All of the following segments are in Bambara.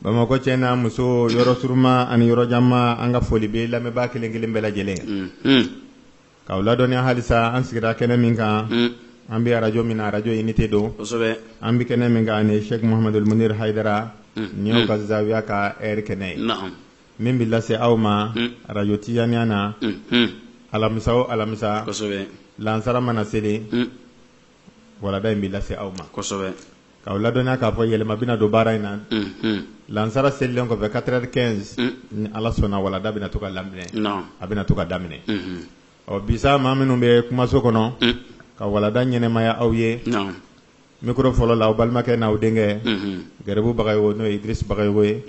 Bamakɔ cɛ n'a muso yɔrɔ surunma ani yɔrɔjanma an ka foli bɛ lamɛnbaa kelen kelen bɛɛ lajɛlen k'aw ladɔnya halisa an sigira kɛnɛ min kan an bɛ arajo min na arajo inite don an bɛ kɛnɛ min kan ni sɛku muhamadu muniru hayidara n'u ka zawiya ka ri kɛnɛ ye min bɛ lase aw ma arajo tijaniya na alamisa o alamisa lansara mana seli walada in bɛ lase aw ma kosɛbɛ k'aw ladɔnya k'a fɔ yɛlɛma bɛna don baara in na lansara selilen kɔfɛ quatre heures quinze ni ala sɔnna walada bɛna to ka lamɛn a bɛna to ka daminɛ ɔ bi sa maa minnu bɛ kumaso kɔnɔ ka walada ɲɛnɛmaya aw ye mikoro fɔlɔ la aw balimakɛ n'aw denkɛ gɛrɛbu bagayogo n'o ye idirisa bagayogo ye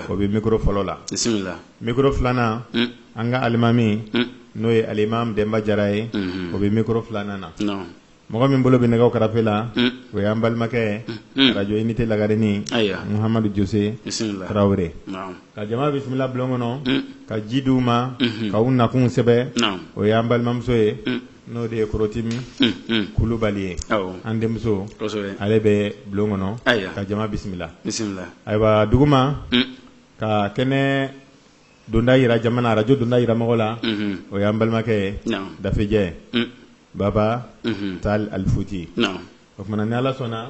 o bɛ mikoro fɔlɔ la mikoro filanan an ka alimami n'o ye alimami denba jara ye o bɛ mikoro filanan na mɔgɔ min bolo bɛ nɛgɛw karafe la o y'an balimakɛ arajo inite lagarenin muhamadu jose tarawele ka jama bisimila bulon kɔnɔ ka ji d'u ma ka u nakun sɛbɛn o y'an balimamuso ye n'o de ye korotimi kulubali ye an denmuso ale bɛ bulon kɔnɔ ka jama bisimila ayiwa duguma ka kɛnɛ donda jira jama na arajo donda jira mɔgɔ la o y'an balimakɛ dafejɛ baba tal alifuti o tuma na ni ala sɔnna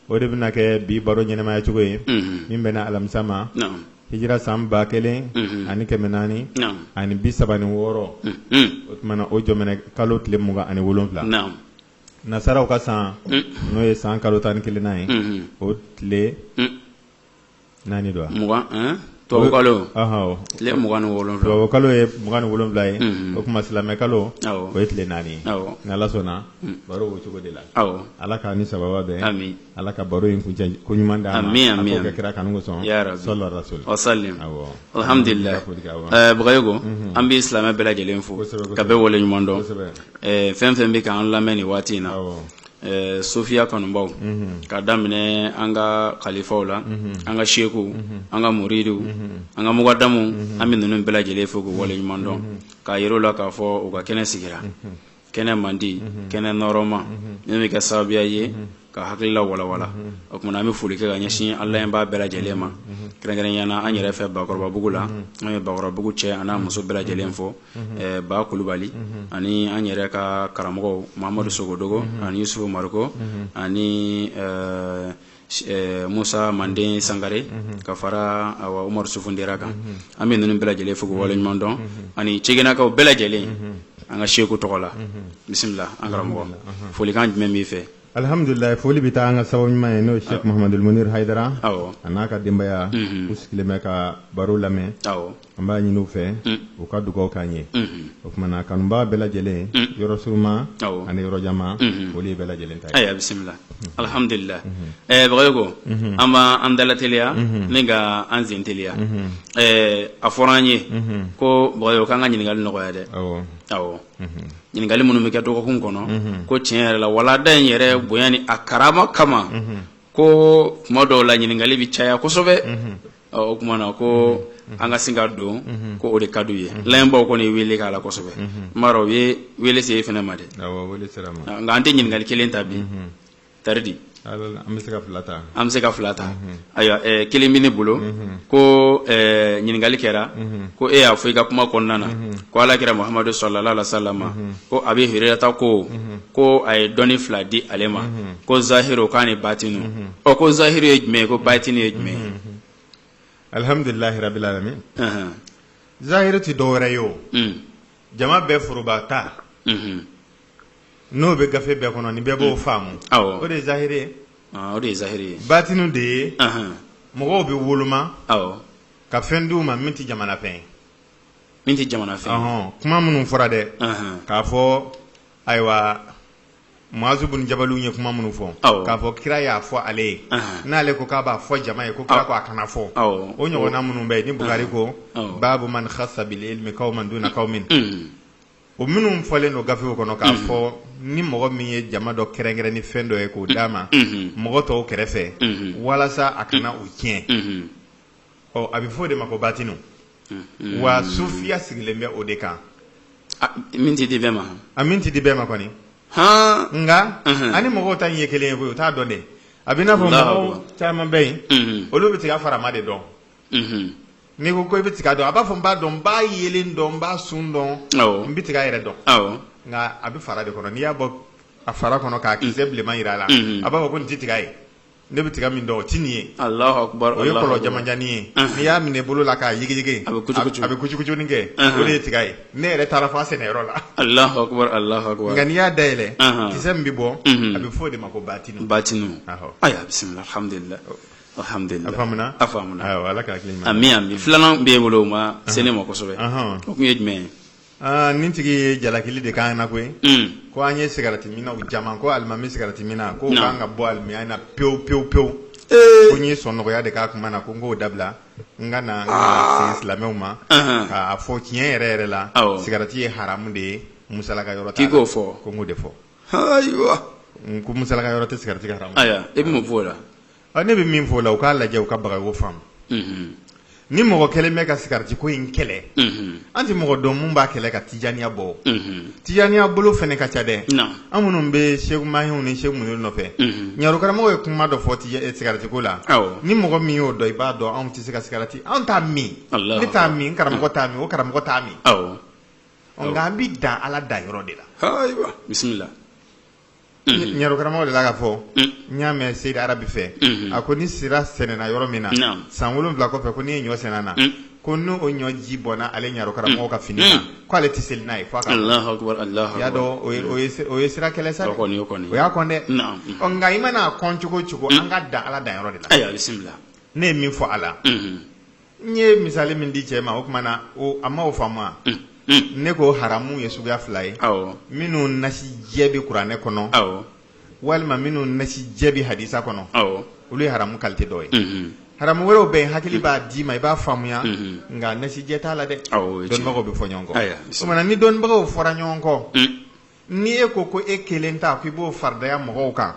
o de bɛna kɛ bi baro ɲɛnɛmaya cogo ye min bɛnna alamisa ma hijira san ba kelen ani kɛmɛ naani ani bi saba ni wɔɔrɔ o tuma na o jɔminɛ kalo tile mugan ani wolonwula nasaraw ka san n'o ye san kalo tan ni kelennan ye o tile naani don wa tubabukalo tile mugan tubabukalo ye mugan ni wolonwula ye o tuma silamɛ kalo o ye tile naani ye ni ala sɔnna baro o cogo de la ala k'an ni sababu bɛn ala ka baro in kuncɛko ɲuman d'an ma a k'o kɛ kira kanu kosɔn sallallahu alaihi wasallam bagayogo an bɛ silamɛ bɛɛ lajɛlen fo ka bɛɛ wale ɲuman dɔn fɛn fɛn bɛ k'an lamɛn nin waati in na Ɛɛ sofiya kanubaw ka daminɛ an ka kalifaw la an ka sekuw an ka muriduw an ka mukadamuw an bɛ ninnu bɛɛ lajɛlen fo k'u wale ɲuman dɔn k'a jira u la k'a fɔ u ka kɛnɛ sigira kɛnɛ mandi kɛnɛ nɔɔrɔma min bɛ kɛ sababuya ye ka hakilila walawala o tuma na an bɛ foli kɛ ka ɲɛsin a lamɛnbaa bɛɛ lajɛlen ma kɛrɛnkɛrɛnnenya na an yɛrɛ fɛ bakɔrɔbabugu la an ye bakɔrɔbabugu cɛ a n'a muso bɛɛ lajɛlen fo ba kulubali ani an yɛrɛ ka karamɔgɔw mahamadu sogodogo ani yusufu mariko ani musa mande sangare ka fara umaru sufundera kan an bɛ ninnu bɛɛ lajɛlen fo k'u wale ɲuman dɔn ani cɛgɛnakaw bɛɛ lajɛlen an ka seku tɔgɔ la bisimila an karamɔgɔ folikan jumɛn b'i fɛ alihamudulila foli bɛ taa an ka sababu ɲuman ye n'o ye sɛk mahamadul munir hayidara awɔ a n'a ka denbaya u sigilen bɛ ka baro lamɛn awɔ an b'a ɲini u fɛ u ka dugawu k'an ye o kuma na kanubaa bɛɛ lajɛlen yɔrɔ suruma Awɔ. ani yɔrɔ janma foli ye bɛɛ lajɛlen ta ye ayiwa bisimila alihamudulila ɛɛ bagayogo an b'an dalateliya ni ka an senteliya ɛɛ a fɔra an ye ko bagayogo k'an ka ɲininkali nɔgɔya dɛ awɔ awɔ ɲininkali minnu bɛ kɛ dɔgɔkun kɔnɔ ko tiɲɛ yɛrɛ la walada in yɛrɛ bonya ni a karama kama ko kuma dɔw la ɲininkali bɛ caya kosɛbɛ o kuma na ko an ka sin ka don ko o de ka d'u ye lamɛnbaaw kɔni ye weele k'a la kosɛbɛ n b'a dɔn u ye weele se e fana ma dɛ nka an tɛ ɲininkali kelen ta bi taridi an bɛ se ka fila ta an bɛ se ka fila ta ayiwa kelen bɛ ne bolo ko ɲininkali kɛra ko e y'a fɔ i ka kuma kɔnɔna na ko alakira mahamadu salalahu alayihi wa salama ko abi hurayirata ko ko a ye dɔnni fila di ale ma ko zahiru k'a ni batinu ko zahiri ye jumɛn ye ko batini ye jumɛn ye alihamdulilahi rabili alamin zahiri tɛ dɔ wɛrɛ ye o jama bɛɛ foroba ta n'o bɛ gafe bɛɛ kɔnɔ ni bɛɛ b'o faamu o de ye zahiri o de ye zahiri ye batinu de ye mɔgɔw bɛ woloma ka fɛn d'u ma min tɛ jamana fɛn ye min tɛ jamana fɛn kuma minnu fɔra dɛ k'a fɔ ayiwa muazu bunu jabalu ye kuma minnu fɔ k'a fɔ kira y'a fɔ ale ye n'ale ko k'a b'a fɔ jama ye ko kira ko a kana fɔ o ɲɔgɔnna minnu bɛ yen ni bukari ko babu man kasa bil ilimi kawman duna kawmin o minnu fɔlen don gafew kɔnɔ k'a fɔ ni mɔgɔ min ye jama dɔ kɛrɛnkɛrɛn ni fɛn dɔ ye k'o d'a ma mɔgɔ tɔw kɛrɛfɛ walasa a kana u tiɲɛ ɔ a bɛ fɔ o de ma ko batinu wa sufiya sigilen bɛ o de kan min tɛ di bɛɛ ma a min tɛ di bɛɛ ma kɔni nka an ni mɔgɔw ta ye kelen ye koyi u t'a dɔn dɛ a bɛ n'a fɔ mɔgɔw caman bɛ yen olu bɛ tiga farama de dɔn n'i ko ko i bɛ tiga dɔn a b'a fɔ n b'a dɔn n b'a yelen dɔn n b'a sun dɔn n bɛ tiga yɛrɛ dɔn nka a bɛ fara de kɔnɔ n'i y'a bɔ a fara kɔnɔ k'a kisɛ mm. bilenman jira a la mm-hmm. a b'a fɔ ko nin tɛ tiga ye ne bɛ tiga min dɔn o tɛ nin ye o ye kɔlɔ jamanjanni ye mm-hmm. n'i y'a minɛ bolo la k'a yigiyigi a bɛ kucukucunin kɛ mm-hmm. o de ye tiga ye ne yɛrɛ taara fo a sɛnɛyɔrɔ la nka n'i y'a dayɛlɛ kisɛ min bɛ bɔ a bɛ fɔ o de ma ko batinu batinu ayiwa bisimila alhamdulilayi filanan b'e bolo o ma se ne ma kosɛbɛ o tun ye jumɛn ye aaa nin tigi ye jalakili de k'an na koyi ko an ye sigarati minnaw caman ko alimami sigarati minna ko an ka bɔ alimamiya na pewu pewu pewu ko n ye sɔnnɔgɔya de k'a kuma na ko n k'o dabila n ka na silamɛw ma k'a fɔ tiɲɛ yɛrɛ yɛrɛ la sigarati ye haramu de ye musalaka yɔrɔ k'o fɔ ko n ko de fɔ ayiwa ko musalaka yɔrɔ tɛ sigarati ka haramuya e bɛ mun fɔ o la ne bɛ min fɔ o la u k'a lajɛ u ka baga o faamu ni mɔgɔ kelen bɛ ka sigarati ko in kɛlɛ an tɛ mɔgɔ dɔn min b'a kɛlɛ ka tijaniya bɔ tijaniya bolo fana ka ca dɛ an minnu bɛ seku mahiw ni seku muniru nɔfɛ ɲarokaramɔgɔ ye kuma dɔ fɔ sigarati ko la ni mɔgɔ min y'o dɔn i b'a dɔn anw tɛ se ka sigarati an t'a min ne t'a min karamɔgɔ t'a min o karamɔgɔ t'a min nka an bɛ dan ala dan yɔrɔ de la bisimila ɲarokaramɔgɔ dela k'a fɔ n y'a mɛn seyidi arabi fɛ a ko ni sira sɛnɛna yɔrɔ min na san wolonwula kɔfɛ ko n'i ye ɲɔ sɛnɛ na ko n'o ɲɔ ji bɔnna ale ɲarokaramɔgɔ ka fini na ko ale tɛ seli n'a ye f'i y'a dɔn o ye sira kɛlɛ sa o y'a kɔn dɛ nka i man'a kɔn cogo cogo an ka dan ala dan yɔrɔ de la ne ye min fɔ a la N ye misali min di cɛ ma o tuma na a ma o faamu wa ne ko haramu ye suguya fila ye minnu nasi jɛ bɛ kuranɛ kɔnɔ walima minnu nasi jɛ bɛ hadisa kɔnɔ olu ye haramu qualité dɔ ye haramu wɛrɛw bɛ yen hakili b'a d'i ma i b'a faamuya nka nasi jɛ t'a la dɛ dɔnnibagaw bɛ fɔ ɲɔgɔn kɔ ni dɔnnibagaw fɔra ɲɔgɔn kɔ ni e ko ko e kelen ta k'i b'o faridaya mɔgɔw kan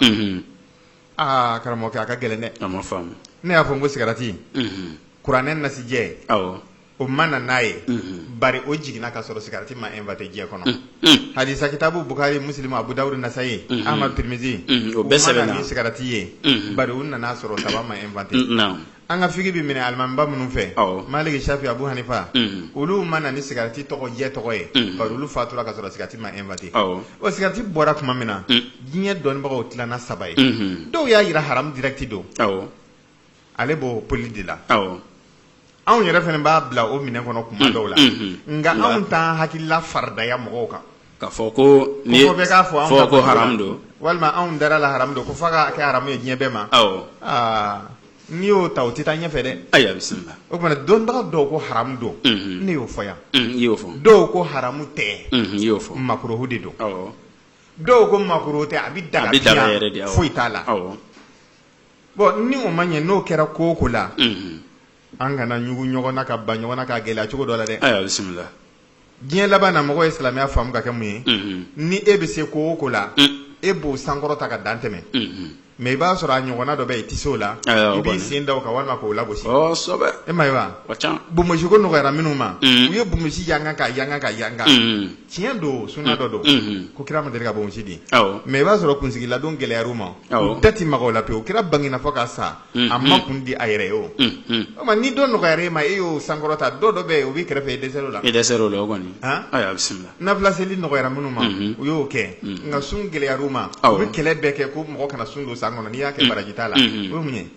Aa karamɔgɔkɛ a ka gɛlɛn dɛ a ma faamu ne y'a fɔ n ko sigarati unhun kuranɛ nasijɛ awɔ o ma na n'a ye unhun bari o jiginna ka sɔrɔ sigarati ma inventer diɲɛ kɔnɔ unhun hadisa kitabu Bukari Musilimu Abu Dawudu Nasayi unhun Ahmadu Tirimizi unhun o bɛɛ sɛbɛnna u ma na ni sigarati ye unhun bari u nan'a sɔrɔ tabac ma inventer n naamu An ka fiki bɛ minɛ alimamiba minnu fɛ, awɔ, Maliki, Safi, Abu Hanifa, unhun, olu ma na ni sigarati tɔgɔ jɛ tɔgɔ ye, unhun, bari olu fatura ka sɔrɔ sigarati ma inventer awɔ, ɔ sigarati bɔra tuma min na, un, diɲɛ dɔnnibagaw tilanna saba ye, unhun, dɔw y'a yira haramu direct don, awɔ, ale b'o poli de la, awɔ, anw yɛrɛ fana b'a bila o minɛn kɔnɔ tuma dɔw la, unhun, nka anw t'an hakilila faridaya mɔgɔw kan. K'a fɔ ko walima anw dar'a la haramu don ko f'a ka kɛ haramu ye diɲɛ bɛɛ ma aa n'i y'o ta o tɛ taa ɲɛfɛ dɛ ayiwa bisimila o tuma dɔnnibaga dɔw ko haramu don ne y'o fɔ yan i y'o fɔ dɔw ko haramu tɛ i y'o fɔ makuruhu de don dɔw ko makuruhu tɛ a bɛ daga a bɛ daga yɛrɛ de foyi t'a la bon ni o ma ɲɛ n'o kɛra ko o ko la an kana ɲugu ɲɔgɔn na ka ban ɲɔgɔn na ka gɛlɛya cogo dɔ la dɛ ayiwa bisimila diɲɛ laban na mɔgɔ ye silamɛya faamu ka kɛ mun ye ni e bɛ se ko o ko la e b'o sankɔrɔta ka dan tɛmɛ mais i b'a sɔrɔ a ɲɔgɔnna dɔ bɛ yen i tɛ se o la i b'i sen da o kan walima k'o lagosi e ma ye wa bonbonsi ko nɔgɔyara minnu ma u ye bonbonsi yanga ka yanga ka yanga tiɲɛ don suna dɔ don ko kira ma deli ka bonbonsi di mais i b'a sɔrɔ kunsigiladon gɛlɛyara u ma u da tɛ maga o la pewu kira bangina fo ka sa a ma kun di a yɛrɛ ye o tuma ni dɔ nɔgɔyara e ma e y'o sankɔrɔta dɔ dɔ bɛ o b'i kɛrɛfɛ e dɛsɛr'o la e dɛsɛr'o la o kɔni bisimila nafila seli nɔgɔyara minnu ma u y'o kɛ nka sun gɛlɛyara u ma u bɛ kɛlɛ bɛɛ kɛ ko mɔgɔ kana sun don san kɔnɔ n'i y'a kɛ baraji t'a la o ye mun ye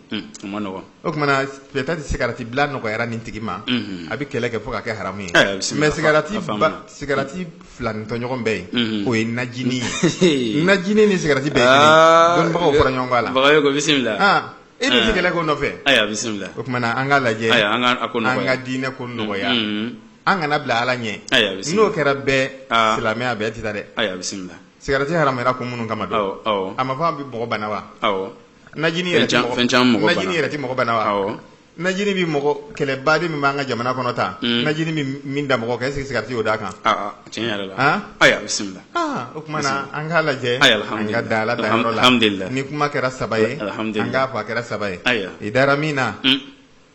o tuma na peut-être sigarati bila nɔgɔyara nin tigi ma a bɛ kɛlɛ kɛ fo ka kɛ haramu ye mais sigarati sigarati filanintɔɲɔgɔn bɛ yen o ye najini ye najini ni sigarati bɛɛ dɔnnibagaw fɔra ɲɔgɔn kɔ a la bagayoko bisimila e bɛ se kɛlɛ ko nɔfɛ ayiwa bisimila o tuma an k'a lajɛ an ka diinɛ ko nɔgɔya an kana bila ala ɲɛ n'o kɛra bɛɛ silamɛya bɛɛ tɛ taa dɛ ayiwa bisimila sigarati haramuyara kun minnu kama don a ma fɔ a bɛ mɔgɔ bana wa najini yɛrɛ tɛ mɔgɔ bana wa Najini bɛ mɔgɔ kɛlɛ baden min b'an ka jamana kɔnɔ tan najini bɛ min da mɔgɔ kan est ce que sigarati y'o d'a kan bisimila o tuma an k'a lajɛ an ka dan ala danyɔrɔ la ni kuma kɛra saba ye an k'a fɔ a kɛra saba ye i dara min na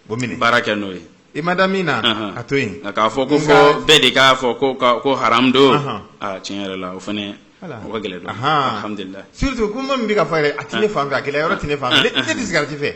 o minɛ baara kɛ n'o ye i ma da min na a to yen k'a fɔ ko fɔ bɛɛ de k'a fɔ ko haramu don tiɲɛ yɛrɛ la o fana ka gɛlɛn dɔɔni alhamdulila surtout ko min bɛ ka fɔ a tɛ ne fan fɛ a gɛlɛya yɔrɔ tɛ ne fan fɛ ne tɛ sigarati fɛ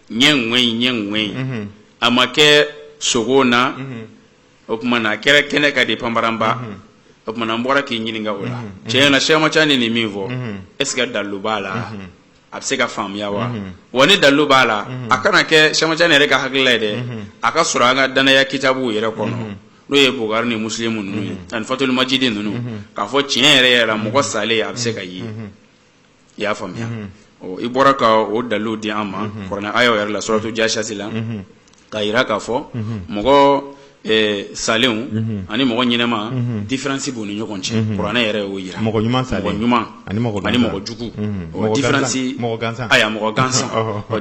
ɲɛ ŋɛ in ɲɛ ŋɛ in mhm. a ma kɛ sogo na mhm. o tuma na a kɛra kɛnɛ ka di panparanba mhm. o tuma na an bɔra k'i ɲininka o la tiɲɛ na Cheikh Ahmad Tijani nin min fɔ est ce que dalilu b'a la a bɛ se ka faamuya wa wa ni dalilu b'a la a kana kɛ Cheikh Ahmad Tijani yɛrɛ ka hakilila ye dɛ a ka sɔrɔ an ka danaya kitabuw yɛrɛ kɔnɔ n'o ye bukari ni musilimu ninnu ye ani fatul majidi ninnu k'a fɔ tiɲɛ yɛrɛ yɛrɛ mɔgɔ salen a bɛ se ka ye i y'a faamuya i bɔra ka o dalu di an ma kuranɛ aya yɛrɛ la suratu jasiyati la k'a yira k'a fɔ mɔgɔ salenw ani mɔgɔ ɲɛnama difiransi b'u ni ɲɔgɔn cɛ kuranɛ yɛrɛ y'o yira mɔgɔ ɲuman ani mɔgɔ jugu mɔgɔ gansan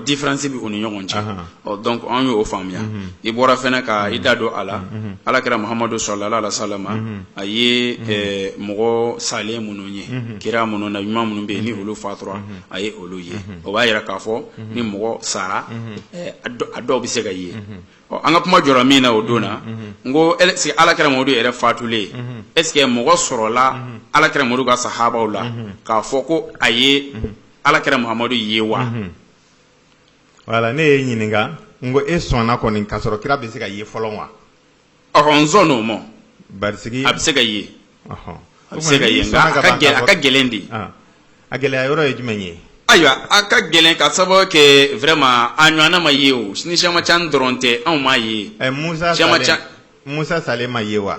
difiransi bɛ u ni ɲɔgɔn cɛ ɔ donc an y'o faamuya i bɔra fɛnɛ ka i da don a la ala kira muhamadu salalahu alayihi wa salama a ye eh, mɔgɔ salen minnu ye kira minnu na ɲuman minnu bɛ yen ni olu fatura a ye olu ye o b'a yira k'a fɔ ni mɔgɔ sara eh, a dɔ- a dɔw bɛ se ka ye ɔ an ka kuma jɔra min na o don na n ko est ce que ala kira mamadu yɛrɛ fatulen est ce que mɔgɔ sɔrɔla ala kira mamadu ka sahabaw la k'a fɔ ko a ye ala kira muhamadu ye wa voilà ne y'i ɲininka n ko e sɔnna kɔni k'a sɔrɔ kira bɛ se ka ye fɔlɔ wa ɔhɔn n sɔnn'o ma parce que a bɛ se ka ye ɔhɔn. a bɛ se ka ye nka a ka gɛlɛn a ka gɛlɛn de Ah. a gɛlɛya yɔrɔ ye jumɛn ye ayiwa a ka gɛlɛn ka sababu kɛ vraiment a ɲɔgɔnna ma ye o ni Cheikh Ahmad Tijani dɔrɔn tɛ anw m'a ye Ɛ, musa Caman salen ca- musa salen ma ye wa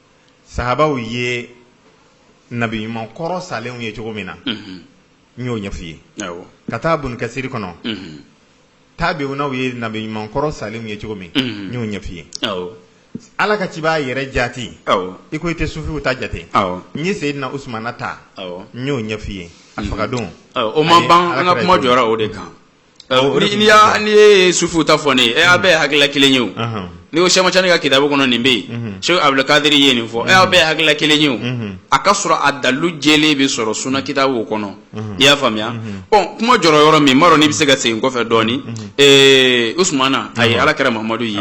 sahabaw ye nabi ɲuman kɔrɔ salenw ye cogo min na n y'o ɲɛf'i ye k'a ta Ibn Kasir kɔnɔ tabi'unaw ye nabi ɲuman kɔrɔ salenw ye cogo min n y'o ɲɛf'i ye ala ka cibaa yɛrɛ jaati i ko i tɛ sufiw ta jate n ye seyidina usumana ta n y'o ɲɛf'i ye a faga don o ma ban an ka kuma jɔra o de kan n'i y'a n'i ye sufiw ta fɔ ne ye aw bɛɛ hakilila kelen ye o n'i ko Cheikh Ahmad Tijani ka kitabu kɔnɔ nin bɛ yen Cheikh abudul kadiri ye nin fɔ aw bɛɛ hakilila kelen ye o a ka sɔrɔ a dalilu jɛlen bɛ sɔrɔ suna kitabu kɔnɔ i y'a faamuya ɔ kuma jɔra yɔrɔ min n m'a dɔn n'i bɛ se ka segin kɔfɛ dɔɔni ee usumana a ye alakira muhamadu ye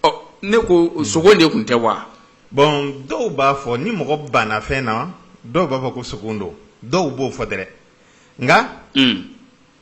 ɔ ne ko sogo de tun tɛ wa bon dɔw b'a fɔ ni mɔgɔ banna fɛn na dɔw b'a fɔ ko sogo don dɔw b'o fɔ dɛrɛ nka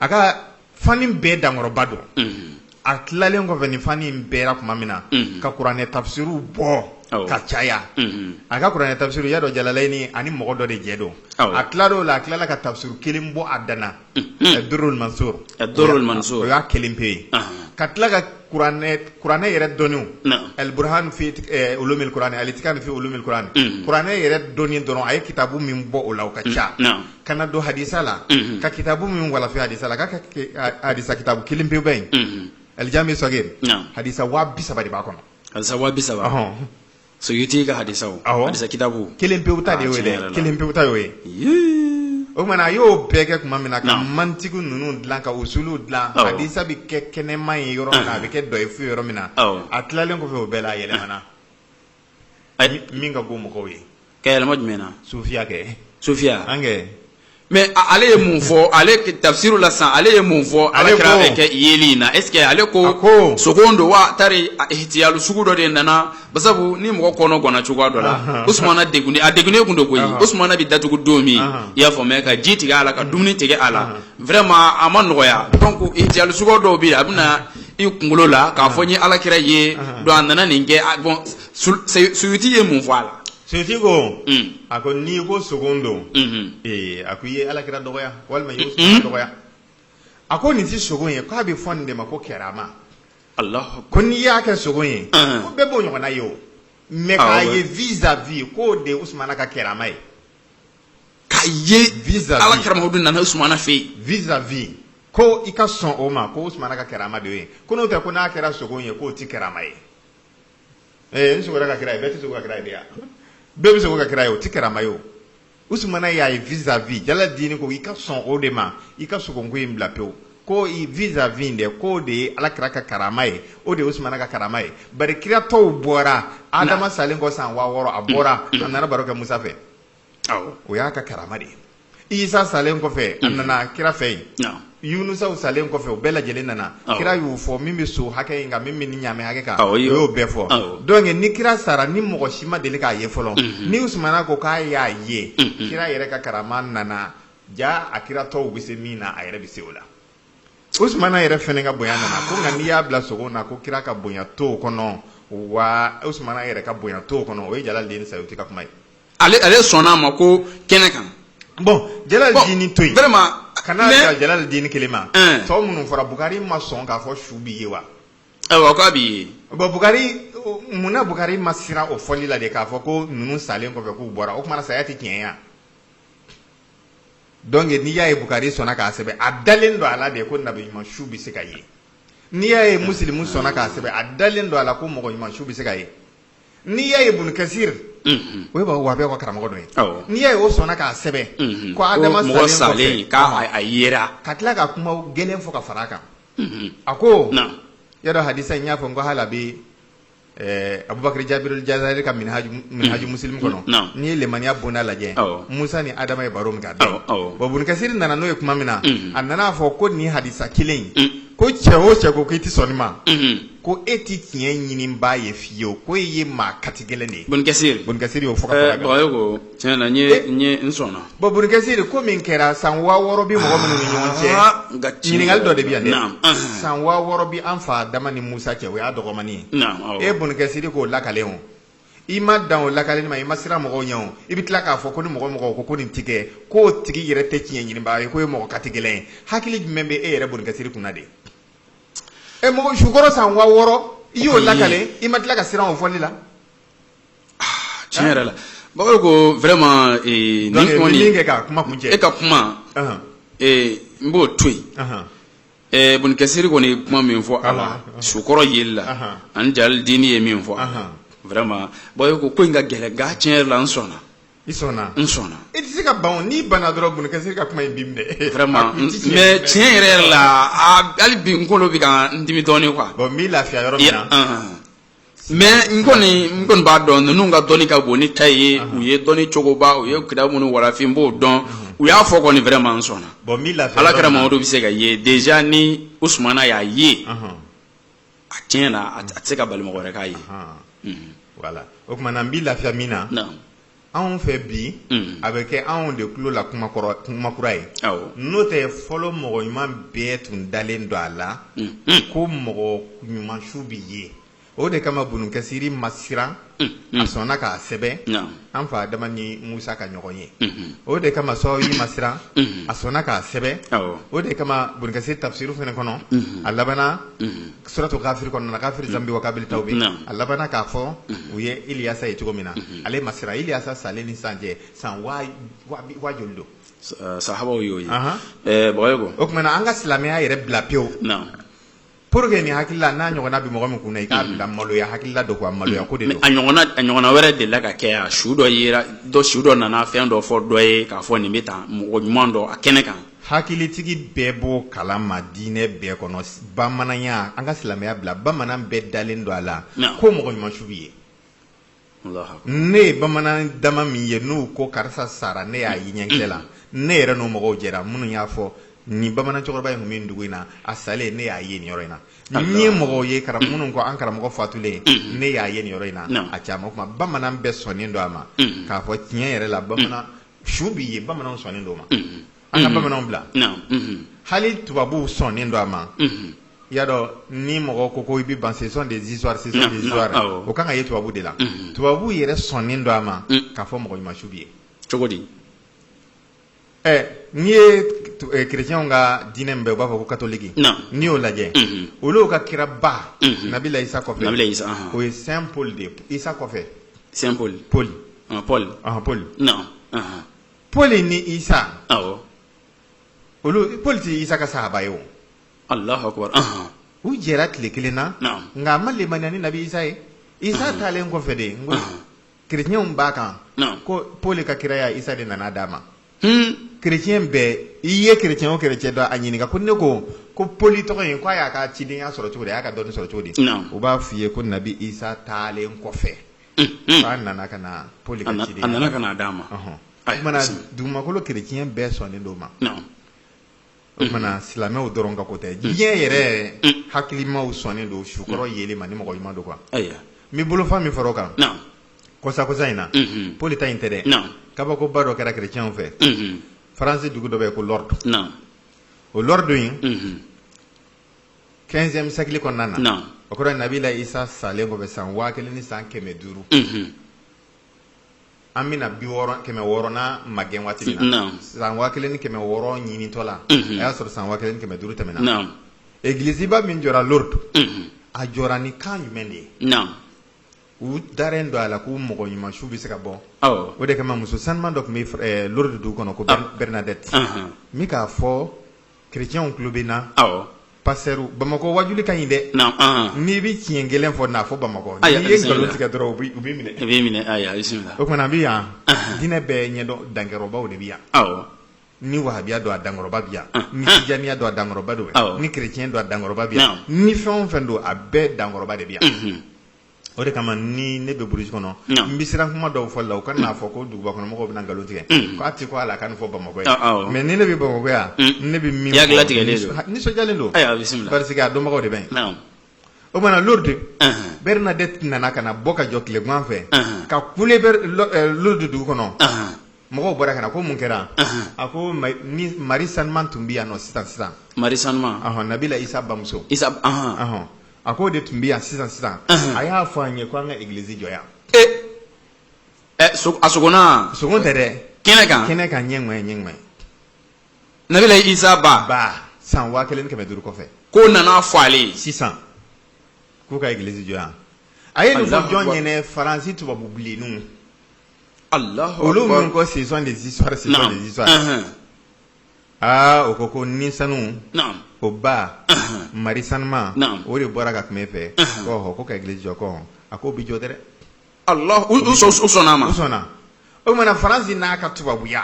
a ka fani bɛɛ dankɔrɔba don a tilalen kɔfɛ nin fani bɛɛra tuma min na ka kuranɛ tafisiriw bɔ ka caya a ka kuranɛ tafisiri ya dɔ jalalayni a ni mɔgɔ dɔ de jɛ don a tilal'o la a tilala ka tafisiri kelen bɔ a dan na Durrul Mansur o y'a kelen pe ye ka tila kuranɛ yɛrɛ dɔnniw al-Burhan fi ulumil kuranɛ al-Itqan fi ulumil kuranɛ kuranɛ yɛrɛ dɔnni dɔrɔn a ye kitabu min bɔ o la a ka ca ka na don hadisa la ka kitabu min walafi hadisa la k'a ka hadisa kitabu kelen pe bɛ yen al-Jami Sagir hadisa waa bisaba de b'a kɔnɔ hadisa waa bisaba hɔn Suyuti ka hadisaw hadisa kitabu kelen pewu ta de y'o ye kelen pewu ta y'o ye o tuma na a y'o bɛɛ kɛ tuma min na ka mantigi ninnu dilan ka usulu dilan hadisa bɛ kɛ kɛnɛma ye yɔrɔ min na a bɛ kɛ dɔyifu ye yɔrɔ min na a tilalen kɔfɛ o bɛɛ la a yɛlɛmana min ka go mɔgɔw ye ka yɛlɛma jumɛn na sufiya kɛ sufiya an kɛ mais ale ye mun fɔ ale tafsiri la sisan ale ye mun fɔ alakira bɛ kɛ yeli in na est ce que ale ko sogo don wa tari ihtiyalu sugu dɔ de nana basabu ni mɔgɔ kɔnɔ gɔnna cogoya dɔ la usumana degunnen a degunnen tun don koyi usumana bɛ datugu don min i y'a faamuya ka ji tigɛ a la ka dumuni tigɛ a la vraiment a ma nɔgɔya donc ihtiyalu sugu dɔw bɛ yen a bɛ na i kunkolo la k'a fɔ n ye alakira ye donc a nana nin kɛ bon suyuti ye mun fɔ a la Suyuti ko a ko n'i ko sogo don ee a ko i ye ala kira dɔgɔya walima i ye usumana dɔgɔya a ko nin tɛ sogo ye k'a bɛ fɔ nin de ma ko karama ko n'i y'a kɛ sogo ye ko bɛɛ b'o ɲɔgɔnna ye o mais k'a ye vis à vis k'o de ye usumana ka karama ye k'a ye vis à ala kira muhamadu nana usumana fɛ yen vis à vis ko i ka sɔn o ma ko usumana ka karama de ye ko n'o tɛ ko n'a kɛra sogo ye k'o tɛ karama ye ɛɛ n sogora ka kira ye bɛɛ tɛ sogo ka kira ye de ya bɛɛ bɛ sogo ka kira ye o tɛ karama ye o usumana y'a ye vis à vis jala diini ko i ka sɔn o de ma i ka sogoko in bila pewu ko i vis à vis dɛ k'o de ye ala kira ka karama ye o de ye usumana ka karama ye bari kira tɔw bɔra adama salen kɔ san waa wɔɔrɔ a bɔra a nana baro kɛ musa fɛ o y'a ka karama de ye isa salen kɔfɛ a nana kira fɛ yen yunusa salen kɔfɛ o bɛɛ lajɛlen nana kira y'u fɔ min bɛ so hakɛ in kan min bɛ ɲamɛ hakɛ kan o y'o bɛɛ fɔ donc ni kira sara ni mɔgɔ si ma deli k'a ye fɔlɔ ni usumana ko k'a y'a ye kira yɛrɛ ka karama nana jaa kira tɔw bɛ se min na a yɛrɛ bɛ se o la usumana yɛrɛ fana ka bonya nana ko nka n'i y'a bila sogo na ko kira ka bonya t'o kɔnɔ wa usumana yɛrɛ ka bonya t'o kɔnɔ o ye jala dini sayuti ka kuma ye ale ale sɔnna a ma ko kɛnɛ kan bon jala dini to yen kana dan jala dini kelen ma tɔw minnu fɔra bukari ma sɔn k'a fɔ su bi ye wa ayiwa k'a bi ye bon bukari munna bukari ma siran o fɔli la de k'a fɔ ko ninnu salen kɔfɛ k'u bɔra o tuma na saya tɛ tiɲɛ ya donc n'i y'a ye bukari sɔnna k'a sɛbɛn a dalen don a la de ko nabi ɲuman su bɛ se ka ye n'i y'a ye musilimu sɔnna k'a sɛbɛn a dalen don a la ko mɔgɔ ɲuman su bɛ se ka ye n'i y'a ye Ibun Kasir unhun, o ye b'a fɔ ko wahabiya ka karamɔgɔ dɔ ye, awɔ, n'i y'a ye o sɔnna k'a sɛbɛn, unhun, ko Adama salen kɔfɛ, ko mɔgɔ salen k'a yera, ka tila ka kuma gɛlɛn fɔ ka fara a kan, unhun, a ko, naamu, i y'a dɔn hadisa in n y'a fɔ ko hali a bɛ ɛɛ Abubakari Jabirul Jazari ka minihaju minihaju musilimu kɔnɔ, naamu, n'i ye lemaniya bonda lajɛ, awɔ, Musa ni Adama ye baro min kɛ a bɛ yen, awɔ, bon Ibun Kasir nana n'o ye kuma min na, unhun, a nana a fɔ ko nin hadisa kelen in, un, ko cɛ o cɛ ko k'i tɛ sɔn nin ma, unhun ko e tɛ tiɲɛ ɲininbaa ye fiyewu ko e ye maa katigɛlɛn de ye ibun kasir ibun kasir y'o fɔ ka fara a kan bagayo ko tiɲɛ na n ye n ye n sɔnna bon ibun kasir ko min kɛra san waa wɔɔrɔ bɛ mɔgɔ minnu ni ɲɔgɔn cɛ Ah, nka tiɲɛ ɲininkali dɔ de bɛ yan dɛ Naam, ahan. san waa wɔɔrɔ bɛ an fa adama ni musa cɛ o y'a dɔgɔmani ye Naam, awɔ. e ibun kasir k'o lakalen o i ma dan o lakaleli ma i ma siran mɔgɔw ɲɛ o i bɛ tila k'a fɔ ko ni mɔgɔ o mɔgɔ ko ko nin tɛ kɛ k'o tigi yɛrɛ tɛ tiɲɛ ɲininbaa ye k'o ye mɔgɔ katigɛlɛn ye hakili jumɛn bɛ e yɛrɛ ibun kasir kunna de mɔgɔ sukɔrɔ san wa wɔɔrɔ i y'o lakale i ma tila ka siran o fɔli la tiɲɛ yɛrɛ la bakari ko vraiment ee, Donc, nin kɔni min kɛ ka kuma kuncɛ e ka kuma Ahan. ee, n b'o to yen Ahan. ee, Ibn Kasir kɔni ye kuma min fɔ a la Ahan. sukɔrɔ yeli la Ahan. ani jali dini ye min fɔ a la Ahan. vraiment bakari ko ko in ka gɛlɛn nka tiɲɛ yɛrɛ la n sɔnna I sɔnna n sɔnna i tɛ se ka ban n'i banna dɔrɔn Ibn Kasir ka kuma in b'i minɛ tiɲɛ yɛrɛ yɛrɛ la hali bi n kolo bɛ ka n dimi dɔɔnin quoi bon n b'i lafiya yɔrɔ min na mais n kɔni n kɔni b'a dɔn ninnu ka dɔnni ka bon ne ta ye u ye dɔnni cogoba u ye kitabu minnu walafi n b'o dɔn u y'a fɔ kɔni vraiment n sɔnna alakira mamadu bɛ se ka ye déjà ni usumana y'a ye a tiɲɛ na a tɛ se ka bali mɔgɔ wɛrɛ k'a ye voilà o tuma na n b'i lafiya min na anw fɛ bi a bɛ kɛ anw de tulo la kuma kuma kura ye n'o tɛ fɔlɔ mɔgɔ ɲuman bɛɛ tun dalen don a la ko mɔgɔ ɲuman su bɛ ye o de kama Ibn Kasir ma siran a sɔnna k'a sɛbɛn an fa adama ni musa ka ɲɔgɔn ye o de kama Saawi ma siran a sɔnna k'a sɛbɛn o de kama Ibn Kasir tafisiri fana kɔnɔ a labanna suratu Ghafir kɔnɔ Ghafir zanbi wa kabili tawbi a labanna k'a fɔ u ye iliyasa ye cogo min na ale ma siran iliyasa salen ni san cɛ san wa joli don sahabaw y'o ye o tuma na an ka silamɛya yɛrɛ bila pewu Pour que nin hakilila n'a ɲɔgɔnna bɛ mɔgɔ min kun na i k'a bila maloya hakilila dɔ quoi maloya ko de don. Mais a ɲɔgɔnna a ɲɔgɔnna wɛrɛ delila ka kɛ yan su dɔ yera dɔ su dɔ nana fɛn dɔ fɔ dɔ ye k'a fɔ nin bɛ tan mɔgɔ ɲuman dɔ a kɛnɛ kan. Hakilitigi bɛɛ b'o kalama diinɛ bɛɛ kɔnɔ bamananya an ka silamɛya bila bamanan bɛɛ dalen don a la ko mɔgɔ ɲuman su bɛ ye. ne ye bamanan dama min ye n'u ko karisa sara ne y'a ye ɲɛkisɛ la ne yɛrɛ n'o mɔgɔw jɛra minnu y'a fɔ nin bamanan cɛkɔrɔba in tun bɛ dugu in na a salen ne y'a ye nin yɔrɔ in na ne ye mɔgɔw ye minnu ko an karamɔgɔ fatulen ne y'a ye nin yɔrɔ in na a caman kuma bamanan bɛɛ sɔnnen don a ma k'a fɔ tiɲɛ yɛrɛ la bamanan su bɛ ye bamanan sɔnnen don o ma an ka bamananw bila hali tubabuw sɔnnen don a ma i y'a dɔn ni mɔgɔ ko ko i bɛ ban ce sont des histoires o kan ka ye tubabuw de la tubabuw yɛrɛ sɔnnen don a ma k'a fɔ mɔgɔ ɲuman su bɛ ye cogo di ɛ n'i ye kerecɛnw ka diinɛ min bɛ u b'a fɔ ko katɔliki n'i y'o lajɛ olu ka kiraba nabila isa o ye Saint Paul de ye isa kɔfɛ Saint Paul Paul Paul pɔli ni isa olu pɔli tɛ isa ka sahaba ye o u jɛra tile kelen na nka a ma limaniya ni nabi isa ye isa taalen kɔfɛ de n ko chrétienw b'a kan ko pɔli ka kiraya isa de nana d'a ma chrétien bɛɛ i ye chrétien o chrétien dɔn a ɲininka ko ne ko ko pɔli tɔgɔ in k'a y'a ka cidenya sɔrɔ cogo di a y'a ka dɔnni sɔrɔ cogo di u b'a fɔ i ye ko nabi isa taalen kɔfɛ Fa nana ka na Pɔli ka cidenya. A nana ka na d'a ma. Ɔnhɔn. O tuma na dugumakolo chrétien bɛɛ sɔnnen don o ma. Naamu. O tuma na silamɛw dɔrɔn ka ko tɛ. Diɲɛ yɛrɛ hakilimaw sɔnnen don su kɔrɔ yeli ma ni mɔgɔ ɲuman don quoi. Ayiwa. N bɛ bolofa min fara o kan. Naamu. Kɔsa-kɔsa in na. Unhun. Pɔli ta in tɛ dɛ. Naamu. Kabakoba dɔ kɛra chrétiens fɛ. Unhun. France dugu dɔ bɛ yen ko Lourdes. Naamu. O Lourdes in. Unhun. 15e siècle kɔnɔna na, naamu, o kɔrɔ ye Nabila Isa salen kɔfɛ san 1000 ni san 500, unhun, an bɛna 60 600 nan magɛn waati min na, naamu, san 1600 ɲinitɔ la, unhun, a y'a sɔrɔ san 1500 tɛmɛna, naamu, egliziba min jɔra Lourdes, unhun, a jɔra ni kan jumɛn de ye? naamu, u dalen don a la k'u mɔgɔ ɲuman su bɛ se ka bɔ, awɔ, o de kama muso sanuman dɔ tun bɛ Lourdes dugu kɔnɔ ko Bernadette, anhan, min k'a fɔ Chrétienw tulo bɛ n na pasteur bamakɔ wajuli ka ɲi dɛ n'i bɛ tiɲɛ kelen fɔ n'a fɔ bamakɔ n'i ye nkalon tigɛ dɔrɔn u b'i minɛ o tumana an bɛ yan diinɛ bɛɛ ɲɛdɔn dankɔrɔbaw de bɛ yan ni wahabiya don a dankɔrɔba bɛ yan ni tijaniya don a dankɔrɔba don ni chrétien don a dankɔrɔba bɛ yan ni fɛn o fɛn don a bɛɛ dankɔrɔba de bɛ yan o de kama ni ne bɛ burusi kɔnɔ n bɛ siran kuma dɔw fɔ la u kan'a fɔ ko duguba kɔnɔmɔgɔw bɛna nkalon tigɛ k'a tɛ ko ala ka nin fɔ bamakɔ yan mais ni ne bɛ bamakɔ yan ne bɛ min fɔ nisɔndiyalen don parce que a dɔnbagaw de bɛ o mana lourdes bernadette nana ka na bɔ ka jɔ tilegan fɛ ka kule lourdes dugu kɔnɔ mɔgɔw bɔra ka na ko mun kɛra a ko mari sanuman tun bɛ yan nɔ sisan sisan mari sanuman nabila isa bamuso a k'o de tun bɛ yan sisan sisan a y'a fɔ an ye ko an ka egilizi jɔ yan ɛ so- a sogonna sogo tɛ dɛ kɛnɛ kan kɛnɛ kan ɲɛ ni ɲɛ ɲɛ ni ɲɛ nabila isa ba ba san waa kelen ni kɛmɛ duuru kɔfɛ k'o nana fɔ ale ye sisan k'u ka egilizi jɔ yan a ye nin fɔ Allahu jɔn Akbar. ɲɛna faransi tubabu bilenninw allahu olu akbar. minnu ko ce sont des histoires ce sont Naam. des histoires Ɛhɛn. aa o ko ko ni sanu naam o ba ahan mari sanuman Naam. o de bɔra ka kuma e fɛ Ahan. ko ɔhɔ ko ka egilizi jɔ ko a ko o bi jɔ dɛrɛ allah u u sɔn- u sɔnna a ma u sɔnna o tumana faransi n'a ka tubabuya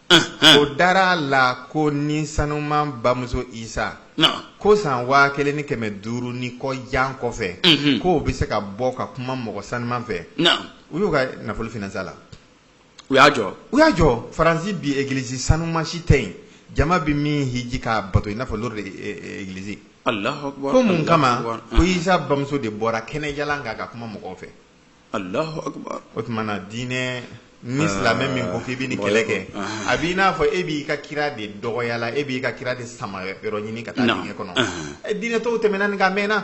Ahan. o dara a la ko ni sanuman bamuso isa naam ko san waa kelen ni kɛmɛ duuru ni kɔ jan kɔfɛ Mhm. k'o bɛ se ka bɔ ka kuma mɔgɔ sanuman fɛ naam u y'u ka nafolo finansa la u y'a jɔ u y'a jɔ faransi bi egiliz sanuman si tɛ yen jama bɛ min hiji k'a bato i n'a fɔ lurdi egilizi ko mun kama ko isa bamuso de bɔra kɛnɛjalan kan ka kuma mɔgɔw fɛ o tuma na diinɛ ni silamɛ min ko k'i bɛ nin kɛlɛ kɛ a b'i n'a fɔ e b'i ka kira de dɔgɔyala e b'i ka kira de sama yɔrɔ ɲini ka taa diinɛ kɔnɔ diinɛ tɔw tɛmɛna nin kan a mɛnna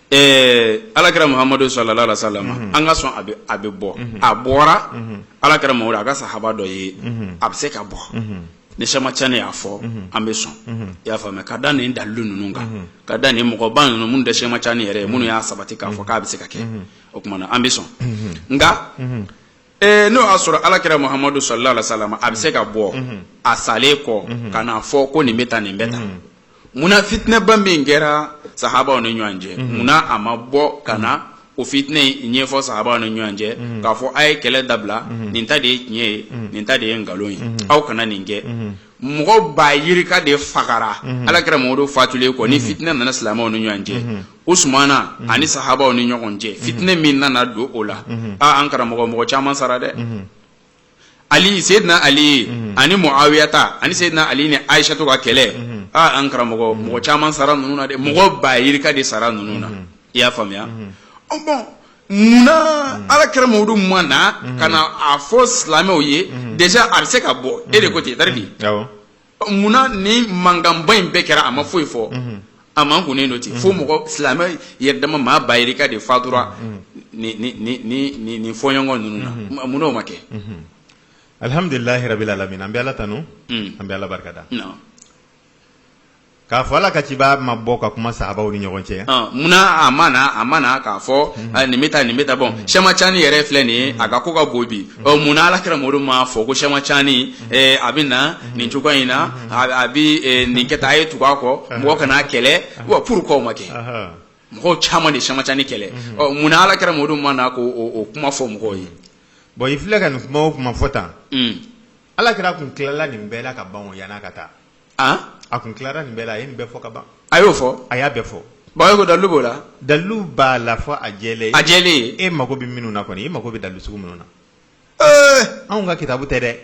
ala kira muhamadu salalahu alayihi wasalamu an ka sɔn a bɛ bɔ a bɔra ala kira muhamadu a ka sahaba dɔ ye a bɛ se ka bɔ ni sema caani y'a fɔ an bɛ sɔn i y'a faamuya ka da nin dalu ninnu kan ka da nin mɔgɔba ninnu minnu tɛ sema caani yɛrɛ ye minnu y'a sabati k'a fɔ k'a bɛ se ka kɛ o tuma na an bɛ sɔn nka Ee n'o y'a sɔrɔ ala kira muhamadu salalahu alayihi wasalamu a bɛ se ka bɔ a salen kɔ ka n'a fɔ ko nin bɛ tan nin bɛ tan munna fitinɛba min kɛra sahabaw ni ɲɔgɔn cɛ munna a ma bɔ ka na o fitinɛ ɲɛfɔ sahabaw ni ɲɔgɔn cɛ k'a fɔ a ye kɛlɛ dabila nin ta de ye tiɲɛ ye nin ta de ye nkalon ye aw kana nin kɛ mɔgɔ ba yirika de fagara ala kira muhamadu fatulen kɔ ni fitinɛ nana silamɛw ni ɲɔgɔn cɛ usumana ani sahabaw ni ɲɔgɔn cɛ fitinɛ min nana don o la aaa an karamɔgɔ mɔgɔ caman sara dɛ ali sedina ali ani muawiya ta ani sedina ali ni ayisatu ka kɛlɛ aaa an karamɔgɔ mɔgɔ caman sara ninnu na dɛ mɔgɔ ba yirika de sara ninnu na i y'a faamuya bon Munna ala kira muhamadu ma na ka na a fɔ silamɛw ye deja a bɛ se ka bɔ e de ko ten tari di munna ni mankanba in bɛɛ kɛra a ma foyi fɔ a makunnen don ten fo mɔgɔ silamɛ yɛrɛ dama maa ba yirika de fatura nin fɔɲɔgɔn ninnu na munna o ma kɛ alihamdulilahi rabili alamina an bɛ ala tanu an bɛ ala barikada K'a fɔ ala ka ciba ma bɔ ka kuma sahabaw ni ɲɔgɔn cɛ munna a ma a ma na k'a fɔ nin bɛ tan nin bɛ tan bon sɛma caani yɛrɛ filɛ nin ye a ka ko ka bon bi munna ala kira mamadu m'a fɔ ko sɛma caani a bɛ na nin cogoya in na a bɛ nin kɛ a ye tugu a kɔ mɔgɔ kan'a kɛlɛ purkuwa o ma kɛ mɔgɔ caman de sɛma caani kɛlɛ munna ala kira mamadu ma na k'o kuma fɔ mɔgɔw ye bon i filɛ ka nin kuma o kuma fɔ tan ala kira tun tilala nin bɛɛ la ka ban yann'a ka taa a tun tilara nin bɛɛ la a ye nin bɛɛ fɔ ka ban a y'o fɔ a y'a bɛɛ fɔ bon ko dalu b'o la dalu b'a la fɔ a jɛ a jɛ e mago bɛ minnu na kɔni e mago bɛ dalu sugu minnu na anw ka kitabu tɛ dɛ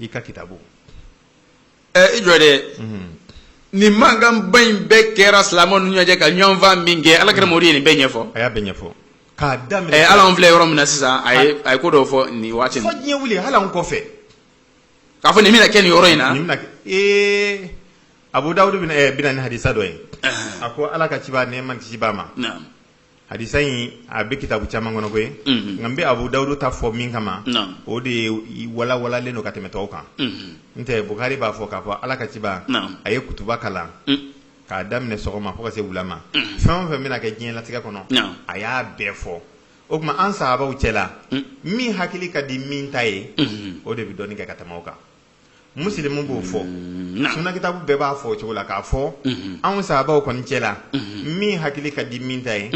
i ka kitabu i jɔ dɛ nin mankanba in bɛɛ kɛra silamɛw ni ɲɔgɔn cɛ ka ɲɔgɔn faa min kɛ ala kira mamadu ye nin bɛɛ ɲɛfɔ a y'a bɛɛ ɲɛfɔ k'a daminɛ hali an filɛ yɔrɔ min na sisan a ye ko dɔw fɔ nin waati fo diɲɛ wuli hali kɔfɛ k'a fɔ nin bɛna kɛ nin yɔrɔ in na nin bɛna kɛ ee Abu Dawud bɛna ɛɛ bɛ na ni hadisa dɔ ye a ko Ala ka ciba nɛɛma ni kisi b'a ma naamu hadisa in a bɛ kitabu caman kɔnɔ koyi Mhm. nka n bɛ Abu Dawud ta fɔ min kama Naamu. o de ye walawalalen don ka tɛmɛ tɔw kan Mhm. n tɛ Bukari b'a fɔ k'a fɔ Ala ka ciba Naamu. a ye kutuba kalan Mm. k'a daminɛ sɔgɔma fo ka se wula ma Mhm. fɛn o fɛn bɛna kɛ diɲɛlatigɛ kɔnɔ Naamu. a y'a bɛɛ fɔ o tuma an sahabaw cɛla mm. min hakili ka di min ta ye mm-hmm. o de bɛ dɔnni kɛ ka tɛmɛ o kan musilimu b'o fɔ mm, suna kitabu bɛɛ b'a fɔ o cogo la k'a fɔ mm-hmm. anw sahabaw kɔni cɛla mm-hmm. min hakili ka di min ta ye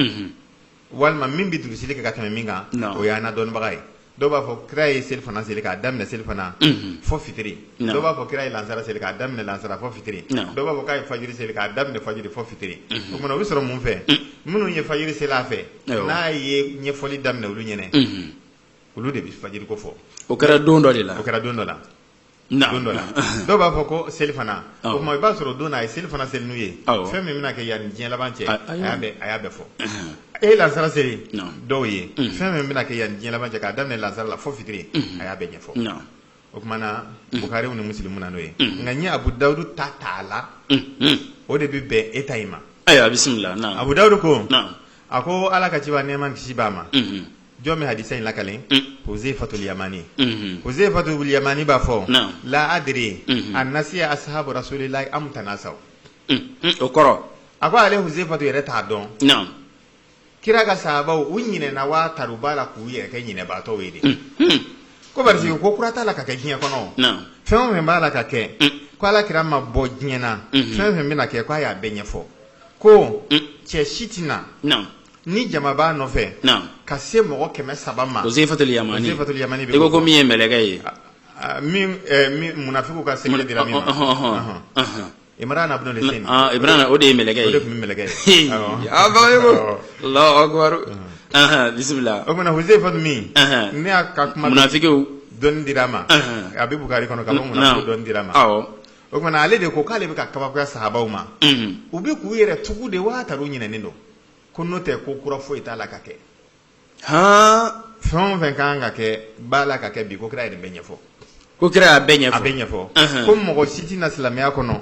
walima min bɛ durusili kɛ ka tɛmɛ min kan o y'an na dɔnnibaga ye dɔw b'a fɔ kira ye selifana seli k'a daminɛ selifana mhm. fɔ fitiri dɔw b'a fɔ kira ye lansara seli k'a daminɛ lansara fɔ fitiri dɔw b'a fɔ k'a ye fajiri seli k'a daminɛ fajiri fɔ fitiri mhm. o kuma na o bɛ sɔrɔ mun fɛ mhm. minnu ye fajiri seli a fɛ n'a ye ɲɛfɔli daminɛ olu ɲɛna olu de bɛ fajiri ko fɔ o kɛra don dɔ de la o kɛra don dɔ la don dɔ la dɔw b'a fɔ ko selifana o tuma i b'a sɔrɔ don na a ye selifana seli n'u ye fɛn min bɛna kɛ yan ni diɲɛ laban cɛ a y'a bɛɛ fɔ a ye lansara seli dɔw ye fɛn min bɛna kɛ yan ni diɲɛ laban cɛ k'a daminɛ lansara la fo fitiri a y'a bɛɛ ɲɛfɔ o kuma na bukari ni musilimu na n'o ye nka n ye abu dawudu ta t'a la o de bɛ bɛn e ta in ma ayiwa bisimila abu dawudu ko a ko ala ka ciba nɛɛma ni kisi b'a ma jɔn bɛ hadisa in lakali huzaifatul yamani huzaifatul yamani b'a fɔ la adri a nasiya ashabu rasulillahi am tanasaw o kɔrɔ a ko ale huzaifatu yɛrɛ t'a dɔn kira ka sahabaw u ɲinɛna waa tari u b'a la k'u yɛrɛ kɛ ɲinɛbaatɔw ye de ko parce que ko kura t'a la ka kɛ diɲɛ kɔnɔ fɛn o fɛn b'a la ka kɛ ko ala kira ma bɔ diɲɛ na fɛn o fɛn bɛna kɛ k'a y'a bɛɛ ɲɛfɔ ko cɛ si tɛ na ni jama b'a nɔfɛ ka se mɔgɔ kɛmɛ saba ma huzaifatul yamani i ko min ye mɛlɛkɛ ye munafikiw ka secret dira min ma Imran ibn al-Husayn Imran o de ye mɛlɛkɛ ye tun bɛ mɛlɛkɛ ye bisimila o tuma huzaifa min ne y'a ka kuma munafikiw dɔnni dira a ma a bɛ bukari kɔnɔ k'a fɔ munafikiw dɔnni dira a ma o kuma na ale de ko k'ale bɛ ka kabakoya sahabaw ma u bɛ k'u yɛrɛ tugu de waa tari u ɲinɛnen don ko n'o tɛ ko kura foyi t'a la ka kɛ hɔn fɛn o fɛn ka kan ka kɛ b'a la ka kɛ bi ko kira yɛrɛ bɛ ɲɛfɔ ko kira y'a bɛɛ ɲɛfɔ a bɛɛ ɲɛfɔ ko mɔgɔ si tɛ na silamɛya kɔnɔ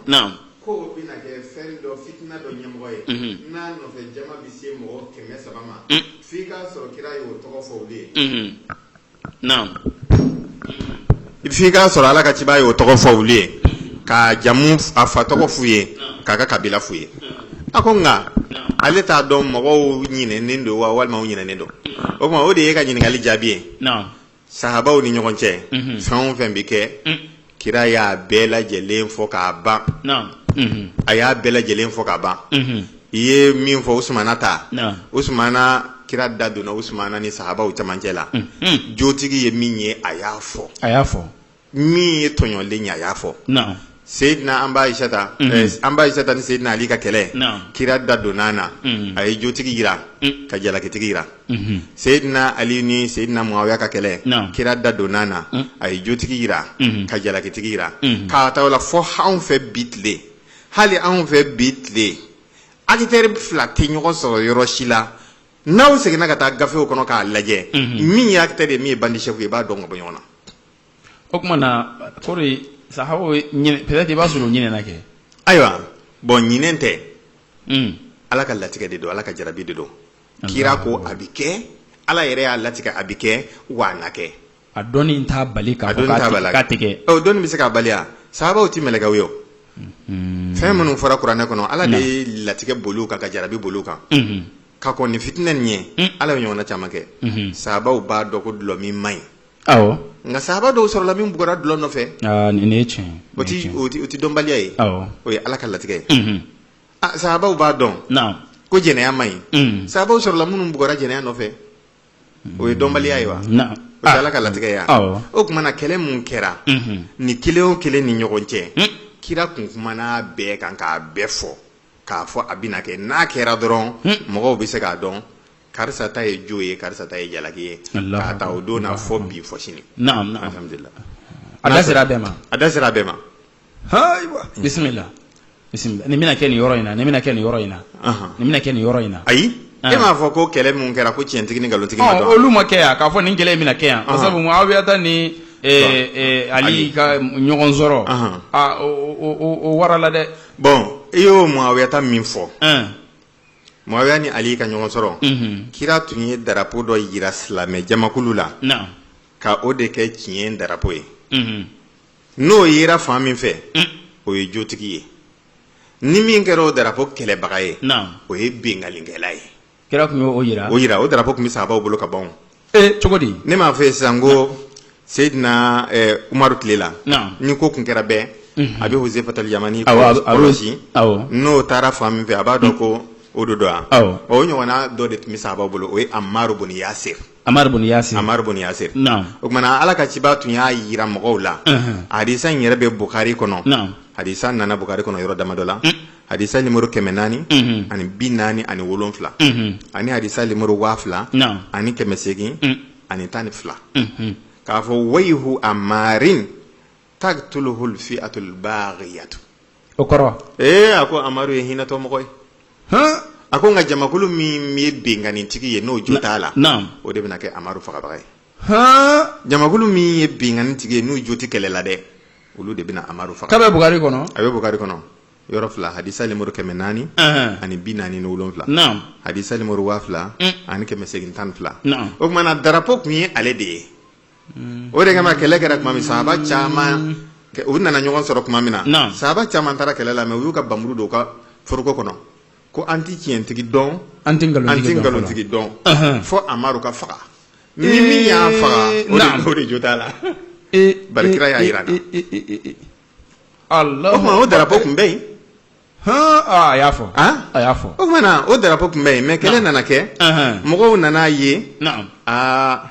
ko o bɛna kɛ fɛn dɔ fitina dɔ ɲɛmɔgɔ ye n'a nɔfɛ jama bɛ se mɔgɔ kɛmɛ saba ma f'i k'a sɔrɔ kira y'o tɔgɔ fɔ olu ye naamu i f'i k'a sɔrɔ ala ka cibaa y'o tɔgɔ fɔ olu ye k'a jamu a fa tɔgɔ f'u ye k'a ka kabila f'u ye a ko nka ale t'a dɔn mɔgɔw ɲinɛnen don wa walima u ɲinɛnen don o tuma o de ye ka ɲininkali jaabi ye sahabaw ni ɲɔgɔn cɛ fɛn o fɛn bɛ kɛ Kira y'a bɛɛ lajɛlen fɔ k'a ban a y'a bɛɛ lajɛlen fɔ k'a ban i ye min fɔ usumana ta usumana kira da donna usumana ni sahabaw camancɛ la jotigi ye min ye a y'a fɔ min ye tɔɲɔlen ye a y'a fɔ seyidina an ba ayisata ni seyidina ali ka kɛlɛ kira da donna na a ye jotigi jira ka jalakitigi jira seyidina ali ni seyidina muawiya ka kɛlɛ Naam. kira da donna na a ye jotigi jira ka jalakitigi jira k'a ta o la fɔ anw fɛ bi tile hali anw fɛ bi tile akitɛri fila tɛ ɲɔgɔn sɔrɔ yɔrɔ si la n'aw seginna ka taa gafew kɔnɔ k'a lajɛ min ye akitɛri ye min ye bandisɛfu ye i b'a dɔn ka bɔ ɲɔgɔn na o tuma na kɔrɔ ye sahabaw ye ɲinɛ peut-être i b'a sɔrɔ u ɲinɛna kɛ ayiwa bɔn ɲinɛn tɛ Mm. ala ka latigɛ de don ala ka jarabi de don kira ko a bɛ kɛ ala yɛrɛ y'a latigɛ a bɛ kɛ wa a na kɛ a dɔnni t'a bali k'a fɔ latigɛ dɔnni bɛ se k'a bali sahabaw tɛ mɛlɛkɛw ye fɛn minnu fɔra kuranɛ kɔnɔ ala de ye latigɛ boli kan ka jarabi boli kan ka kɔn nin fitinɛ nin ɲɛ ala bɛ ɲɔgɔnna caman kɛ sahabaw b'a dɔn ko dulɔ min man ɲi nka sahaba dɔw sɔrɔla min bugɔra dulɔ nɔfɛ nin o tɛ dɔnbaliya ye o ye ala ka latigɛ ye Ah, sahabaw b'a dɔn naam ko jɛnɛya man ɲi Mm. sahabaw sɔrɔla minnu bugɔra jɛnɛya nɔfɛ o ye dɔnbaliya ye wa naam o tɛ ala ka latigɛ ye wa? awɔ o tuma na kɛlɛ min kɛra Mhm. ni kelen o kelen ni ɲɔgɔn cɛ Mm. kira kun kumana a bɛɛ kan k'a bɛɛ fɔ k'a fɔ a bɛna kɛ n'a kɛra dɔrɔn Mm. mɔgɔw bɛ se k'a dɔn karisa ta ye jo ye karisa ta ye jalaki ye Allahu k'a ta o don na fɔ bi fɔ sini naam naam alhamdulilah a da sera a bɛɛ ma a da sera a bɛɛ ma bisimila bisimila nin bɛna kɛ nin yɔrɔ in na nin bɛna kɛ nin yɔrɔ in na nin bɛna kɛ nin yɔrɔ in na ayi e m'a fɔ ko kɛlɛ min kɛra ko tiɲɛtigi ni nkalontigi ma dɔn olu ma kɛ yan k'a fɔ nin kɛlɛ in bɛna kɛ yan sabu muawiyata ni ali ka ɲɔgɔn sɔrɔ o warala dɛ bɔn i y'o muawiyata min fɔ muawiya ni ali ka ɲɔgɔn sɔrɔ kira tun ye darapo dɔ jira silamɛjamakulu la ka o de kɛ tiɲɛ darapo ye n'o yera fan min fɛ o ye jotigi ye ni min kɛra o darapo kɛlɛbaga ye o ye binkannikɛla ye kira tun y'o jira o darapo tun bɛ sahabaw bolo ka ban cogo di ne m'a f'i ye sisan ko seyidina umaru tile la ni ko tun kɛra bɛɛ a bɛ huzefatal yamani kɔrɔsi n'o taara fan min fɛ a b'a dɔn ko o don don yan o ɲɔgɔnna dɔ de tun bɛ sahabaw bolo o ye amaru buni yasir Amaru bun Yasir Amaru bun Yasir naamu o tuma na Ala ka cibaa tun y'a yira mɔgɔw la hadisa in yɛrɛ bɛ Bukari kɔnɔ naamu hadisa nana Bukari kɔnɔ yɔrɔ damadɔ la hadisa nimoro kɛmɛ naani ani bi naani ani wolonfila ani hadisa nimoro waa fila naamu ani kɛmɛ seegin ani tan ni fila k'a fɔ wayihu amarin taqtuluhul fi'atul baghiyatu o kɔrɔ ee a ko Amaru ye hinɛtɔ mɔgɔ ye a ko nka jamakulu min ye binkanitigi ye n'o jo t'a la o de bɛna kɛ Amaru fagabaga ye jamakulu min ye binkanitigi ye n'u jo tɛ kɛlɛ la dɛ olu de bɛna Amaru faga a bɛ bukari kɔnɔ a bɛ bukari kɔnɔ yɔrɔ fila hadisa lemuru kɛmɛ naani ani bi naani ni wolonwula hadisa lemuru waa fila ani kɛmɛ seegin tan ni fila o tumana darapo tun ye ale de ye o de kama kɛlɛ kɛra tuma min sahaba caman u nana ɲɔgɔn sɔrɔ tuma min na sahaba caman taara kɛlɛ la mais u y'u ka npanmuru don u ka foroko kɔnɔ ko an tɛ tiɲɛtigi dɔn an tɛ nkalontigi dɔn fo Amaru ka faga ni min y'a faga o de jo t'a la bari kira y'a yira an na o tuma o darapo tun bɛ yen a y'a fɔ a y'a fɔ o tumana o darapo tun bɛ yen mais kɛlɛ nana kɛ mɔgɔw nan'a ye aa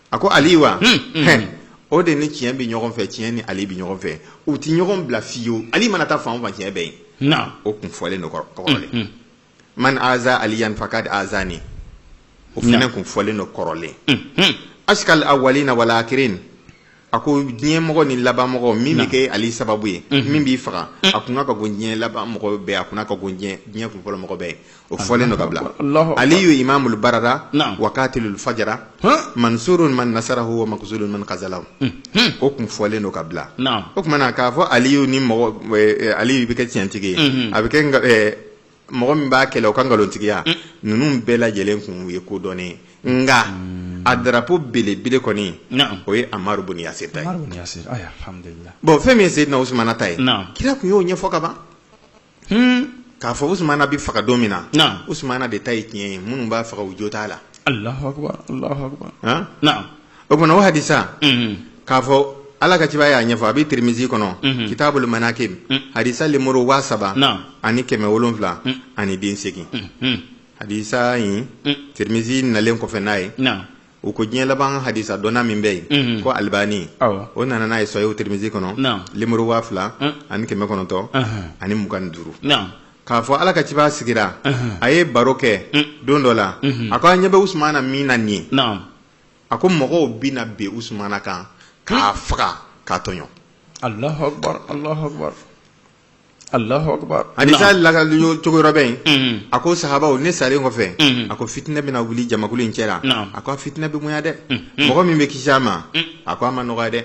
a ko ali wa hmm, hmm, hmm. o de ni tiɲɛ bɛ ɲɔgɔn fɛ tiɲɛ ni Ali bɛ ɲɔgɔn fɛ u tɛ ɲɔgɔn bila fiyewu ali mana taa fan o fan tiɲɛ bɛ yen o kun fɔlen don kɔrɔlen man aza aliyan fakad azani o fana kun fɔlen don kɔrɔlen ashkal awwalina wal akhirin a ko diɲɛ mɔgɔ ni laban mɔgɔ min bɛ kɛ ali sababu ye min b'i faga a kun ka go diɲɛ laban mɔgɔ bɛɛ a kun ka go diɲɛ kun fɔlɔ mɔgɔ bɛɛ o fɔlen don ka bila aliyu imamul barara wa katilul fajara mansurun man nasarahu wa makhzulun man khazalahu o kun fɔlen don ka bila o tumana k'a fɔ aliyu ni mɔgɔ aliyu bɛ kɛ tiɲɛtigi ye a bɛ kɛ mɔgɔ min b'a kɛlɛ o ka nkalontigiya ninnu bɛɛ lajɛlen kun ye ko dɔnnen nka a darapo belebele kɔni o ye Amaru bun Yasir ta ye bon fɛn min ye Seyidina Usumana ta ye kira tun y'o ɲɛfɔ ka ban k'a fɔ Usumana bɛ faga don min na Usumana de ta ye tiɲɛ ye minnu b'a faga u jo t'a la o tumana o hadisa k'a fɔ ala ka ciba y'a ɲɛfɔ a bɛ tirimizi kɔnɔ kitabul manakib hadisa lemuru waa saba ani kɛmɛ wolon wolonwula ani den seegin hadisa in tirimizi nalen kɔfɛ n'a ye u ko diɲɛ laban hadisa dɔnna min bɛ yen mhm. ko alibani o nana n'a ye Sahih tirimizi kɔnɔ lemuru waa fila ani kɛmɛ kɔnɔntɔn ani mugan ni duuru k'a fɔ ala ka cibaa sigira a ye baro kɛ mm. don dɔ la mhm. a ko an ɲɛ bɛ usumana min na nin ye a ko mɔgɔw bɛna bin usumana kan k'a faga k'a tɔɲɔ Hadisa lakali cogo dɔ bɛ yen a ko sahaba ne salen kɔfɛ a ko fitina bɛna wuli jamakulu in cɛ la a ko fitina bɛ bonya dɛ mɔgɔ min bɛ kisi a ma a ko a ma nɔgɔ dɛ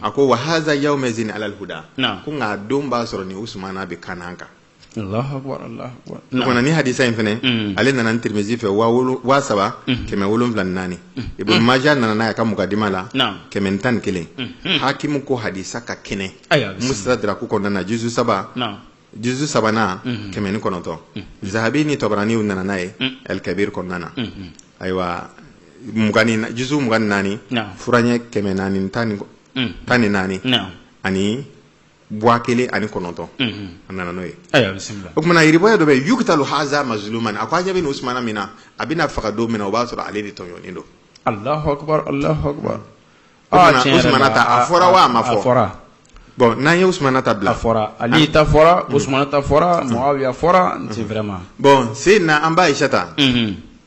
a ko wa haza yawumayizin alali huda a ko nka don b'a sɔrɔ nin usumana bɛ kan kan nin hadisa in fana ale nana tirimizi fɛ waa saba kɛmɛ wolonwula naani ibunu maja nana n'a ka mukadima la kɛmɛ tan ni kelen hakimu ko hadisa ka kɛnɛ ayiwa bisimila. musitadiraku kɔnɔna na juzu saba Naam. juzu sabanan kɛmɛ ni kɔnɔntɔn zahabi ni tabarani u nana n'a ye alikabiri kɔnɔna na ayiwa mugan ni na- juzu mugan ni naani Naam. furaɲɛ kɛmɛ naani ni tan ni kɔ- Mm. tan ni naani Naam. ani waa kelen ani kɔnɔntɔn Mhm. a nana n'o ye ayiwa bisimila. o tuma na riwaya dɔ bɛ yen yukitalu haza mazulumani a ko a ɲɛ bɛ nin usumana min na a bɛna faga don min na o b'a sɔrɔ ale de tɔɲɔnen don alahu akubar alahu akubar a fɔra wa a ma fɔ a fɔra bɔn n'an ye usumana ta bila fɔra ali ta fɔra usumana ta fɔra muawiya fɔra c'est vraiment bon seyidina an ba ayisata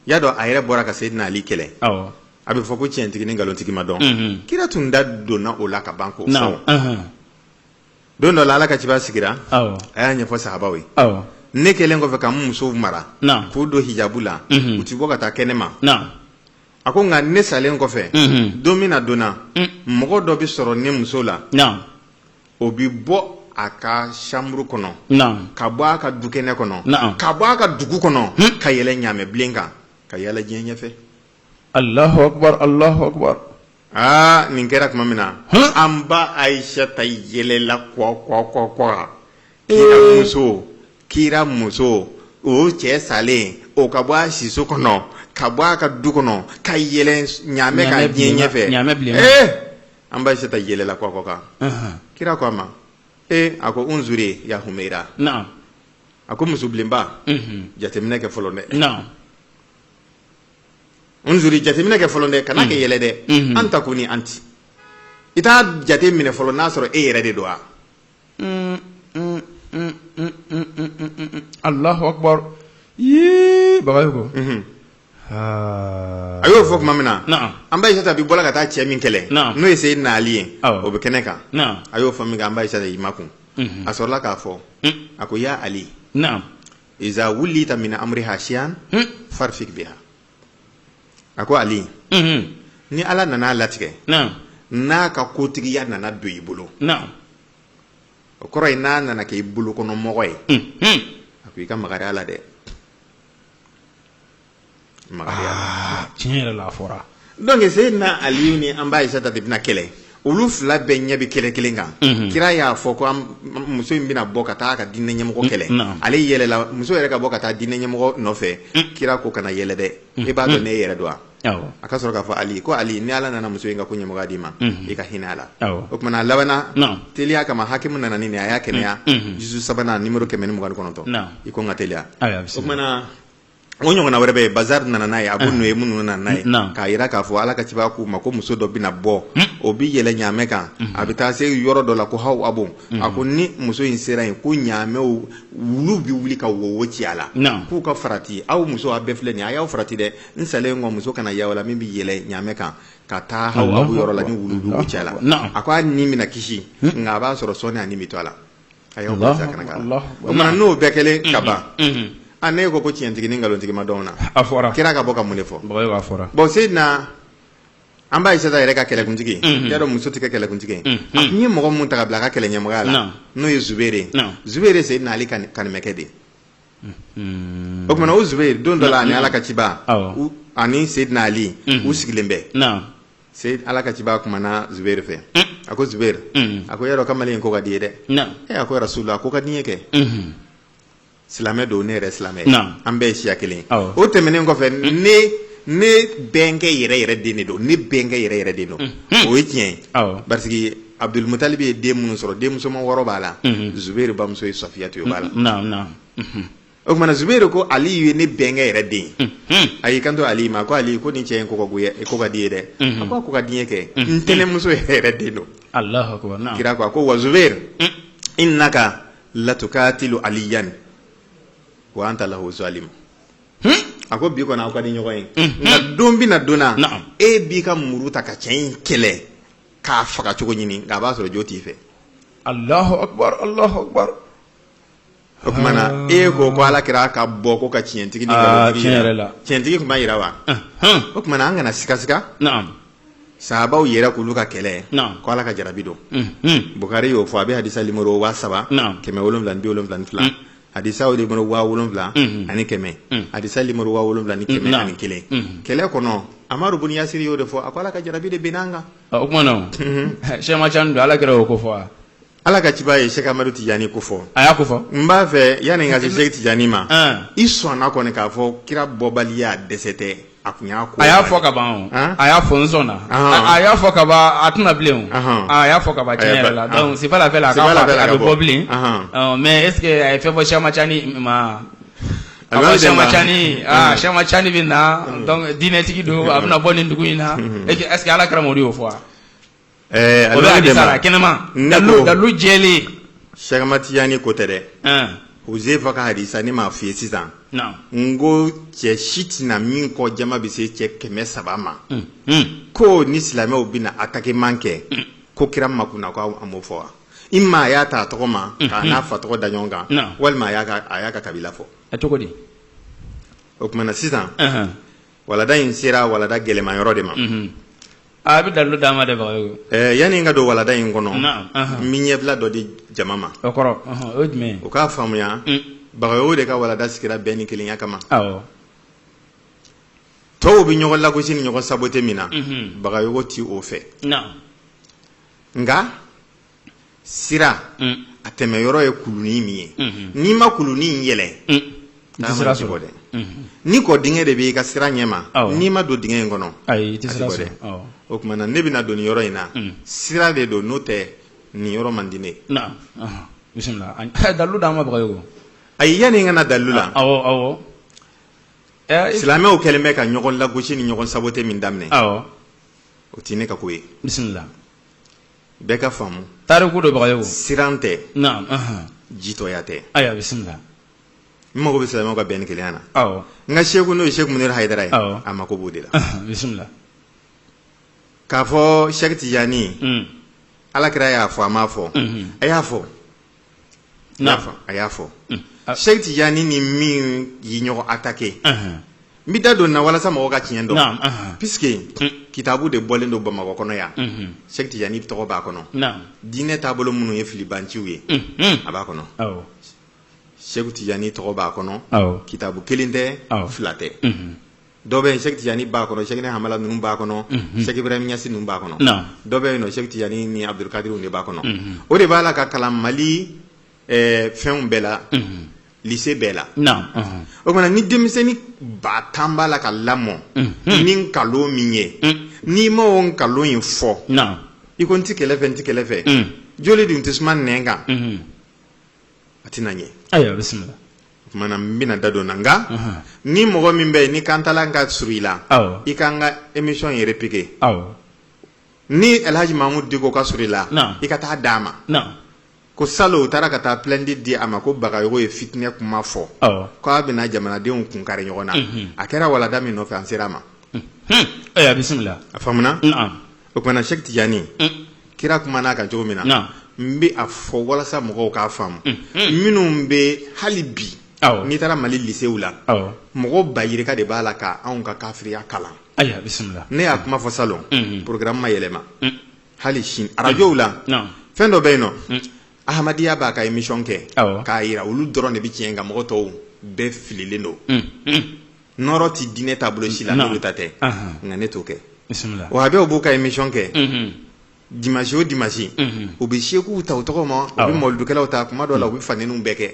y'a dɔn a yɛrɛ bɔra ka seyidina ali kɛlɛ a bɛ fɔ ko cɛntigi ni nkalontigi ma dɔn kira tun da donna o la ka ban ko don dɔ ala ka ciba sigira a y'a ɲɛfɔ sahaba ye ne kɛlen kɔfɛ ka musow mara k'u don hijabu la u tɛ bɔ ka taa kɛnɛ ma a ko nka ne salen kɔfɛ don min na donna mɔgɔ dɔ bɛ sɔrɔ ne muso la o bɛ bɔ a ka sanburu kɔnɔ ka bɔ a ka dukɛnɛ kɔnɔ ka bɔ a ka dugu kɔnɔ ka yɛlɛ ɲamɛbilen kan ka yaala diɲɛ ɲɛfɛ alahu akubar alahu akubar Aa nin kɛra tuma min na an ba ayisata yɛlɛla kɔ kɔ kɔ kɔ muso kira muso o cɛ salen o ka bɔ a siso kɔnɔ ka bɔ a ka du kɔnɔ ka yɛlɛ ɲamɛ kan diɲɛ ɲɛfɛ ɲamɛ bilen ee an ba ayisata yɛlɛla kɔ kɔ kan kira ko a ma ee a ko unzuri ya humayira a ko musobilenba jateminɛ kɛ fɔlɔ dɛ unzuri jateminɛ kɛ fɔlɔ dɛ kana kɛ yɛlɛ dɛ an takuni anti i t'a jate minɛ fɔlɔ n'a sɔrɔ e yɛrɛ de don wa alahu akbar yii bagayogo ko a y'o fɔ tuma min na an ba ayisata bi bɔla ka taa cɛ min kɛlɛ n'o ye seyidina ali ye o bɛ kɛnɛ kan a y'o fɔ minkɛ an ba ayisata y'i makun a sɔrɔla k'a fɔ a ko ya ali iza wulita mini amuriha sayian farufuku biha a ko ali ni ala nana a latigɛ n'a ka kotigiya nana don i bolo o kɔrɔ ye n'a nana kɛ i bolo kɔnɔ mɔgɔ ye a ko i ka makari a la dɛ tiɲɛ yɛrɛ la a fɔra dɔnki seyidina ali ni an ba ayisata de bɛna kɛlɛ olu fila bɛɛ ɲɛ bɛ kɛlɛ kelen kan kira y'a fɔ ko muso in bɛna bɔ ka taa ka diinɛ ɲɛmɔgɔ kɛlɛ ale yɛlɛla muso yɛrɛ ka bɔ ka taa diinɛ ɲɛmɔgɔ nɔfɛ kira ko kana yɛlɛ dɛ e b'a dɔn n'e yɛrɛ don wa a ka sɔrɔ k'a fɔ ali ko ali ni ala nana muso in ka ko ɲɛmɔgɔya d'i ma i ka hinɛ a la o kumana a labanna teliya kama hakimu nana nin a y'a kɛnɛya juzu sabanan nimoro kɛmɛ ni mugan kɔnɔntɔn i ko n ka teliya o O ɲɔgɔnna wɛrɛ bɛ yen bazari nana n'a ye Abu Nuayimu nana n'a ye k'a yira k'a fɔ ala ka ciba k'u ma ko muso dɔ bɛna bɔ o bɛ yɛlɛ ɲamɛ kan a bɛ taa se yɔrɔ dɔ la ko hawabu a ko ni muso in sera yen ko ɲamɛ wulu bɛ wuli ka wowo ci a la k'u ka farati aw muso a bɛɛ filɛ nin a y'aw farati dɛ n salen kɔ muso kana y'aw la min bɛ yɛlɛ ɲamɛ kan ka taa hawabu yɔrɔ la ni wulu bɛ ci a la a ko a ni bɛna kisi nka a b'a sɔrɔ sɔɔni a ni bɛ to a la a y'aw bɛɛ sakana ka na o kumana n'o bɛɛ kɛlen ka ban a ne ko ko tiɲɛtigi ni nkalontigi ma dɔn n'a fɔra kira ka bɔ ka mun de fɔ a fɔra bon Seydina an ba Ayisata yɛrɛ ka kɛlɛkuntigi i y'a dɔn muso tɛ kɛ kɛlɛkuntigi ye a tun ye mɔgɔ min ta ka bila a ka kɛlɛɲɛmɔgɔya la n'o ye Zubairu ye Zubairu ye Seyidina Ali kanimɛkɛ de ye o kumana o zubere don dɔ la ani ala ka ciba ani seyidina ali u sigilen bɛ se ala ka ciba kumana zubere fɛ a ko zubere a ko y'a dɔn kamalen in ko ka d'i ye dɛ e a ko rasulula a ko ka di n ye kɛ silamɛ don ne yɛrɛ silamɛ an bɛɛ ye siya kelen o tɛmɛnen kɔfɛ ne ne bɛnkɛ yɛrɛ yɛrɛ den de don ne bɛnkɛ yɛrɛ yɛrɛ den don o ye tiɲɛ ye Abudul mutalibi ye den minnu sɔrɔ den musoman wɔɔrɔ b'a la zubairu bamuso ye safiyatu ye o b'a la naam naam o kumana zubairu ko aliyu ye ne bɛnkɛ yɛrɛ den ye a y'i kanto aliyu ma ko aliyu ko nin cɛ in ko ka goya ko ka d'i ye dɛ a ko a ko ka di n ye kɛ n tɛnɛmuso yɛrɛ yɛrɛ den don alahu akubar naam kira ko a ko wa zubairu innaka latukatilu aliyan wa anta lahu zalim a ko bi kɔni aw ka di ɲɔgɔn ye nka don bɛna donna Naam. e b'i ka muru ta ka cɛ in kɛlɛ k'a faga cogo ɲini nka a b'a sɔrɔ jo t'i fɛ Allahu akbar Allahu akbar o kumana ah. e ko ko ala kira ka bɔ ko ka tiɲɛtigi ni ah, tiɲɛtigi kun ma yira wa o kumana an kana sikasika sahabaw yɛrɛ k'olu ka kɛlɛ ko ala ka jarabi don bukari y'o fɔ a bɛ hadisa nimoro waa saba kɛmɛ wolonwula ni bi wolonwula ni fila adisa o nimoro waa wolonwula ani kɛmɛ adisa nimoro waa wolonwula ni kɛmɛ ani kelen kɛlɛ kɔnɔ amaru bun yasiri y'o de fɔ a ko ala ka jarabi de binn'an kan o kumana sɛki macani don ala kira o ko fɔ ala ka ciba ye sɛki amadu tijani ko fɔ a y'a ko fɔ n b'a fɛ yanni n ka se sɛki tijani ma i sɔnna kɔni k'a fɔ kira bɔbaliya dɛsɛ tɛ A tun y'a ko a y'a fɔ ka ban a y'a fɔ n sɔnna a y'a fɔ ka ban a tɛna bilen a y'a fɔ ka ban tiɲɛ yɛrɛ la donc c'est pas la peine a bɛ bɔ bilen mais est-ce que a ye fɛn fɔ sɛki macani ma a ko sɛki macani sɛki macani bɛ na diinɛtigi don a bɛna bɔ nin dugu in na est-ce que ala kira o y'o fɔ wa Ɛɛ o bɛ hadisa la kɛnɛma Ne dalu ko- dalu jɛlen sɛki matijani ko tɛ dɛ ɛn huzefa ka hadisa ne m'a f'i ye sisan na n ko cɛ si tɛ na min kɔ jama bɛ se cɛ kɛmɛ saba ma un un ko ni silamɛw bɛna atakeman kɛ ko kira makuna ko a m'o fɔ wa i ma a y'a ta a tɔgɔ ma k'a n'a fa tɔgɔ da ɲɔgɔn kan Non. walima a y'a ka a y'a ka kabila fɔ a cogo di o tuma na sisan ɛhɛn walada in sera walada gɛlɛmayɔrɔ de ma unhun A bɛ dalu d'a ma dɛ bagayogo yani n ka don walada in kɔnɔ n bɛ ɲɛbila dɔ di jama ma o kɔrɔ o ye jumɛn o k'a faamuya bagayogo de ka walada sigira bɛn ni kelenya kama tɔw bɛ ɲɔgɔn lagosi ni ɲɔgɔn sabote min na bagayogo tɛ o fɛ nka sira a tɛmɛ yɔrɔ ye kulunin min ye n'i ma kulunin yɛlɛn a tɛ bɔ dɛ ni kɔ dingɛ de b'i ka sira ɲɛ ma n'i ma don dingɛ in kɔnɔ a tɛ bɔ dɛ o tuma na ne bɛna don nin yɔrɔ in na sira de don n'o tɛ nin yɔrɔ man di ne dalu d'an ma ayi yani n ka na dalu la silamɛw kɛlen bɛ ka ɲɔgɔn lagosi ni ɲɔgɔn sabote min daminɛ o tɛ ne ka ko ye bɛɛ k'a faamu tariku don bagayogo siran tɛ naam ahan jitɔya tɛ ayiwa bisimila n mago bɛ silamɛw ka bɛn ni kelenya na awɔ n ka seku n'o ye seku munir hayidara ye Awɔ. a mako b'o de la ahan bisimila k'a fɔ sɛki tijani Mm. ala kira y'a fɔ a m'a fɔ Mhm. a y'a fɔ a y'a fɔ sɛki tijani ni min ye ɲɔgɔn atake n bɛ da don na walasa mɔgɔ ka tiɲɛ dɔn puisque kitabu de bɔlen don bamakɔ kɔnɔ yan sɛki tijani tɔgɔ b'a kɔnɔ diinɛ taabolo minnu ye filibanciw ye a b'a kɔnɔ sɛki tijani tɔgɔ b'a kɔnɔ kitabu kelen tɛ fila tɛ dɔ bɛ yen sɛki tijani b'a kɔnɔ sɛki hamala ninnu b'a kɔnɔ sɛki ibrahim ɲasi ninnu b'a kɔnɔ dɔ bɛ yen sɛki tijani ni abudulkadir de b'a kɔnɔ o de b'a la ka kalan mali fɛnw bɛɛ la lise bɛɛ la o tuma na ni denmisɛnnin ba tan b'a la ka lamɔ ni nkalon min ye n'i ma o nkalon in fɔ i ko n tɛ kɛlɛ fɛ n tɛ kɛlɛ fɛ joli dun tɛ suma nɛn kan a tɛna ɲɛ ayiwa bisimila o tuma na n bɛna da don na nka ni mɔgɔ min bɛ yen ni kantala ka surun i la i k'an ka emisiyɔn in repike ni alhaji mamudu diko ka surun i la i ka taa d'a ma ko salon u taara ka taa pilɛnti di a ma ko bagayogo ye fitinɛ kuma fɔ k'a bɛna jamanadenw kun kari ɲɔgɔn na a kɛra walada min nɔfɛ an sera a ma ayiwa bisimila a o tuma na Sɛki Tijani kira kumana a kan cogo min na n bɛ a fɔ walasa mɔgɔw k'a faamu minnu bɛ hali bi n'i taara mali lisew la mɔgɔ ba yirika de b'a la k' anw ka kafiriya kalan ne y'a kuma fɔ salon porogramu ma yɛlɛma hali sini arajow la fɛn dɔ bɛ yen n'o Ahamadiya b'a ka émission kɛ k'a jira olu dɔrɔn de bɛ tiɲɛ kan mɔgɔ tɔw bɛɛ fililen don nɔɔrɔ tɛ diinɛ taabolo si la n'olu ta tɛ nka ne t'o kɛ wa a bɛɛ b'u ka émission kɛ dimanche o dimanche u bɛ sekuw ta u tɔgɔ ma u bɛ mawuludukɛlaw ta tuma dɔw la u bɛ fanɛninw bɛɛ kɛ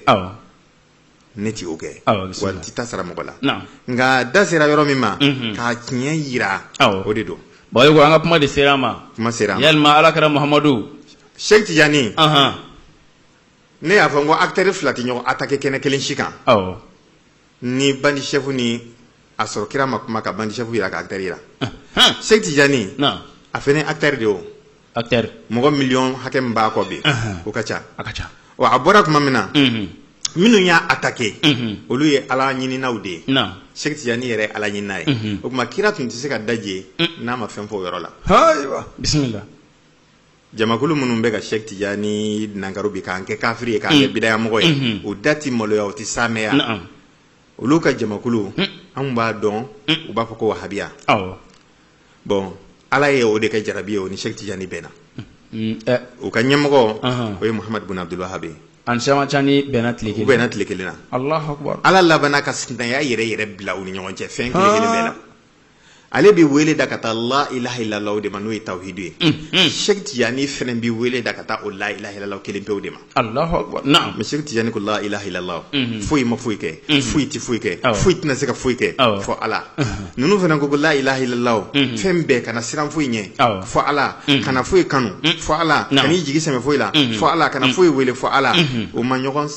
ne tɛ o kɛ wa n tɛ taa sara mɔgɔ la nka da sera yɔrɔ min ma ka tiɲɛ jira o de don bon ayiwa an ka kuma de sera a ma kuma sera a ma yalima ala kira muhamadu Cheikh Tidiane ne y'a fɔ n ko acteurs fila tɛ ɲɔgɔn attaquer kɛnɛ kelen si kan. ni bandi sɛfu ni a sɔrɔ kira ma kuma ka bandi sɛfu jira ka akitɛri jira sɛki tijani a fana akitɛri de o akitɛri mɔgɔ miliyɔn hakɛ min b'a kɔ bi o ka ca a ka ca wa a bɔra tuma min na minnu y'a atake olu ye ala ɲininaw de ye sɛki tijani yɛrɛ ala ɲinina ye o tuma kira tun tɛ se ka daje n'a ma fɛn fɔ o yɔrɔ la bisimila Jamakulu minnu bɛ ka Sɛki Tijani nankaro bi k'an kɛ kafiri ye k'an kɛ bidayamɔgɔ ye u da tɛ maloya u tɛ saamɛya olu ka jamakulu anw b'a dɔn u b'a fɔ ko wahabiya bon Ala ye o de kɛ jarabi ye o ni Sɛki Tijani bɛnna u ka ɲɛmɔgɔ o ye Mahamadu Bun Abudulu Wahabi ye u bɛnna tile kelen na Ala labanna ka sinaya yɛrɛ yɛrɛ bila u ni ɲɔgɔn cɛ fɛn kelen kelen bɛɛ la. ale bɛ wele da ka taa la ilaha ilala de ma n'o ye tawuhidu ye sɛki tijani fana bɛ wele da ka taa o la ilaha ilala kelen pewu de ma mɛ sɛki tijani ko la ilaha ilala foyi ma foyi kɛ foyi tɛ foyi kɛ foyi tɛna se ka foyi kɛ fɔ ala ninnu fana ko ko la ilaha ilala fɛn bɛɛ kana siran foyi ɲɛ fɔ ala kana foyi kanu fɔ ala kana i jigi sɛmɛ foyi la fɔ ala kana foyi wele fɔ ala u ma ɲɔgɔn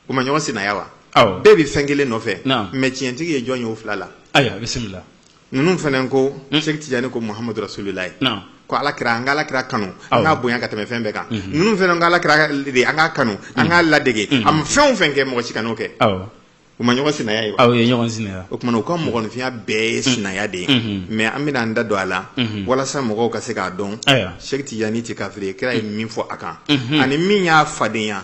u ma ɲɔgɔn sinaya wa awɔ bɛɛ bɛ fɛn kelen nɔfɛ Naam. mais tiɲɛtigi ye jɔn ye o fila la ayiwa bisimila ninnu fana ko Hmm. sɛki tijani ko muhamadu rasulilayi naam ko ala kira an ka ala kira kanu Awɔ. an k'a bonya ka tɛmɛ fɛn bɛɛ kan Mhm. ninnu fana ko ala kira de an k'a kanu an k'a ladege Mhm. a ma fɛn o fɛn kɛ mɔgɔ si kan'o kɛ awɔ u ma ɲɔgɔn sinaya ye wa u ye ɲɔgɔn sinaya o tuma na u ka mɔgɔninfinya bɛɛ ye sinaya de ye Mhm. mais an bɛna an da don a la Mhm. walasa mɔgɔw ka se k'a dɔn ayiwa sɛki tijani tɛ kafiri ye kira ye min fɔ a kan Mhm. ani min y'a fadenya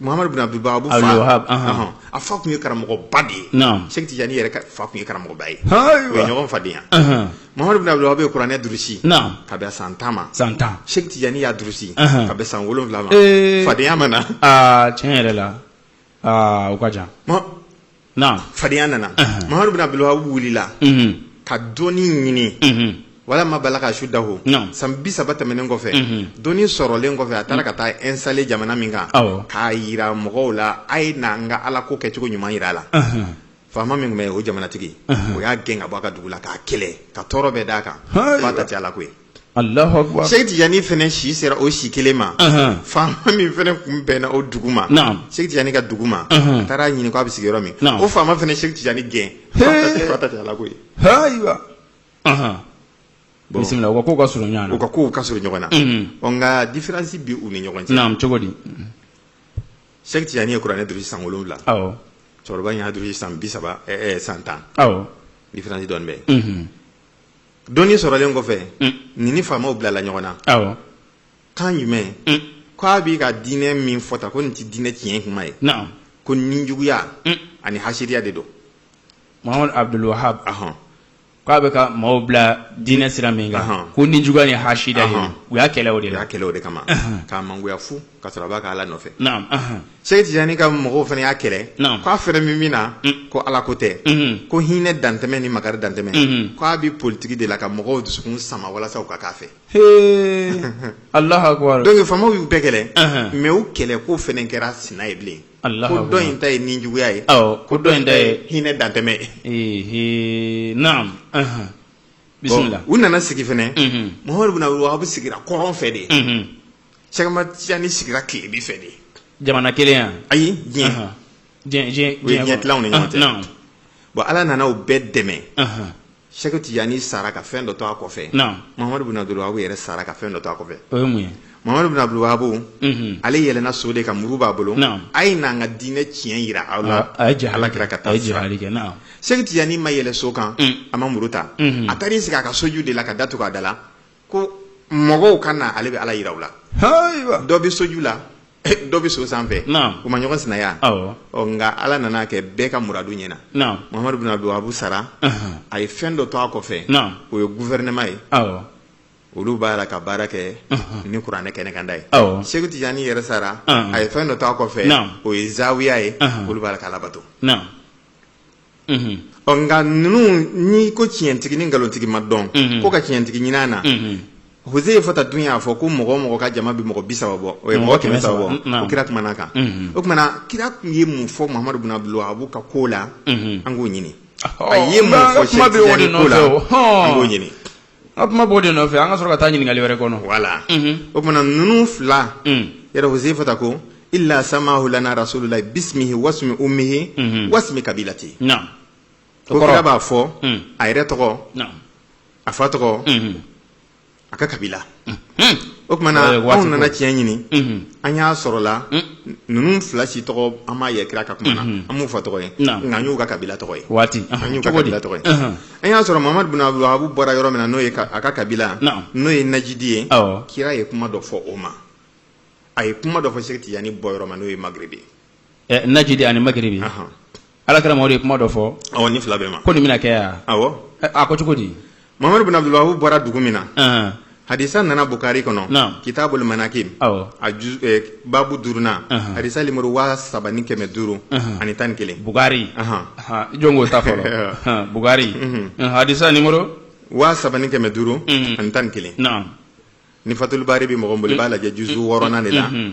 Muhamadu Bun Abudulu Wahabi a fa tun ye karamɔgɔba de ye Sɛki Tijani yɛrɛ fa tun ye karamɔgɔba ye u ye ɲɔgɔn fadenya Muhamadu Bun Abudulu Wahabi ye kuranɛ durusi ka bɛn san tan ma san tan Sɛki Tijani y'a durusi ka bɛn san wolonwula ma fadenya ma na tiɲɛ yɛrɛ la o ka jan Naam. Fadenya nana. Anhan. Mamadu bin Abdul Wahab wulila Mhm. ka dɔnni ɲini. Mhm. Walamma balaka ashuddahu. Naam. San bi saba tɛmɛnen kɔfɛ. Mhm. Dɔnni sɔrɔlen kɔfɛ a taara ka taa installer jamana min kan. Awɔ. K'a yira mɔgɔw la a ye na n ka ala ko kɛcogo ɲuman yira a la. Anhan. Faama min tun bɛ yen o jamanatigi. Anhan. O y'a gɛn ka bɔ a ka dugu la k'a kɛlɛ ka tɔɔrɔ bɛɛ d'a kan. Hayiwa. F'a ta tɛ ala ko ye. Alahu akibaru. Sɛki Tijani fana si sera o si kelen ma. Faama min fana kun bɛnna o dugu ma. Naamu. Sɛki Tijani ka dugu ma. A taara ɲini k'a bɛ sigi yɔrɔ min. Naamu. O faama fana Sɛki Tijani gɛn. Hee. F'a ta tɛ Ala ko ye. Ayiwa. Bisimila u ka kow ka surun ɲɔgɔn na. U ka kow ka surun ɲɔgɔn na. Ɔ nka diferansi bɛ u ni ɲɔgɔn cɛ. Naamu cogo di. Sɛki Tijani ye kuranɛ durusi san wolonwula. Awɔ. Cɛkɔrɔba in y'a durusi san bi saba ɛɛ san tan. Awɔ. Diferansi dɔɔni bɛ yen. Dɔnni sɔrɔlen kɔfɛ nin ni faamaw bilala ɲɔgɔn na kan jumɛn k' a b'i ka diinɛ min fɔta ko nin tɛ diinɛ tiɲɛ kuma ye ko ninjuguya ani hasidiya de don Mamadu Abdul Wahab k'a bɛ ka maaw bila diinɛ sira min kan ko ninjuguya ni hasida ye u y'a kɛlɛ o de la u y'a kɛlɛ o de kama k'a mangoya fu ka sɔrɔ a b'a ka ala nɔfɛ Sɛki Tijani ka mɔgɔw fana y'a kɛlɛ k'a fana bɛ min na ko ala ko tɛ ko hinɛ dantɛmɛ ni makari dantɛmɛ k' a bɛ politigi de la ka mɔgɔw dusukun sama walasa u ka k'a fɛ Alahu akibaru dɔnki faamaw y'u bɛɛ kɛlɛ mɛ u kɛlɛ ko fana kɛra sina ye bilen ko dɔ in ta ye ninjuguya ye ko dɔ in ta ye hinɛ dantɛmɛ ye u nana sigi fana Mamadu bin Abdul Wahab sigira kɔrɔn fɛ de ye Sɛki Tijani sigira tilebin fɛ de jamana kelen yan ayi diɲɛ tilan u ni ɲɔgɔn cɛ bon ala nana u bɛɛ dɛmɛ Sɛki Tijani sara ka fɛn dɔ to a kɔfɛ Mamadu bin Abdul Wahab yɛrɛ sara ka fɛn dɔ to a kɔfɛ o ye mun ye Mamadu bin Abdul Wahab ale yɛlɛnna so de kan muru b'a bolo a ye n'an ka diinɛ tiɲɛ jira aw la a ye ala kira ka taa Sɛki Tijani ma yɛlɛ so kan a ma muru ta a taara i sigi a ka soju de la ka da tugu a da la ko mɔgɔw ka na ale bɛ ala jira u la dɔ bɛ soju la dɔ bɛ so sanfɛ u ma ɲɔgɔn sinaya nka ala nana kɛ bɛɛ ka muradu ɲɛna Mamadu bin Abdul Wahab sara a ye fɛn dɔ to a kɔfɛ o ye guvɛrinɛma ye olu b'a la ka baara kɛ ni kuranɛ kɛnɛkanda ye Sɛki Tijani yɛrɛ sara a ye fɛn dɔ to a kɔfɛ o ye zawiya ye olu b'a la ka alabato ɔ nka ninnu n'i ko tiɲɛtigi ni nkalontigi ma dɔn ko ka tiɲɛtigi ɲini a na hse ye fota dun y'a fɔ ko mɔgɔ o mɔgɔ ka jama bɛ mɔgɔ bi saba bɔ o ye mɔgɔ kɛmɛ saba bɔ o kira kumana kan o kumana kira tun ye mun fɔ Mamadu bin Abdul Wahab ka ko la an k'o ɲini a ye mun fɔ Sɛki Tijani ko la an k'o ɲini An kuma b'o de nɔfɛ an ka sɔrɔ ka taa ɲininkali wɛrɛ kɔnɔ voilà o tuma na ninnu fila yɛrɛ huzefata ko illa samahu lana rasulullahi bismihi wasmi ummihi wasmi kabilati ko kira b'a fɔ a yɛrɛ tɔgɔ a fa tɔgɔ a ka kabila o tuma na anw nana tiɲɛ ɲini an y'a sɔrɔla ninnu fila si tɔgɔ an m'a ye kira ka kuma na an m'u fa tɔgɔ ye nka an y'u ka kabila tɔgɔ ye an y'u ka kabila tɔgɔ ye an y'a sɔrɔ muhamadu bin abdul wahabu bɔra yɔrɔ min na n'o ye a ka kabila n'o ye najidi ye kira ye kuma dɔ fɔ o ma a ye kuma dɔ fɔ seku tijani bɔ yɔrɔ ma n'o ye magiribi ye najidi ani magiribi ala kira mamadu ye kuma dɔ fɔ nin fila bɛɛ ma ko nin bɛna kɛ yan a ko cogo di muhamadu bin abdul wahabu bɔra dugu min na Hadisa nana Bukari kɔnɔ, naamu, kitabul manakibu, awɔ, a juz ɛ babu duurunan, anhan, hadisa numéro 3500, anhan, ani tan ni kelen, Bukari, anhan, ɔhɔ, jɔn ko ta fɔlɔ, ɔhɔ, Bukari, unhun, hadisa numéro 3500, unhun, ani tan ni kelen, naamu, ni fatul baari bɛ mɔgɔ min bolo i b'a lajɛ juzu wɔɔrɔnan de la, unhun.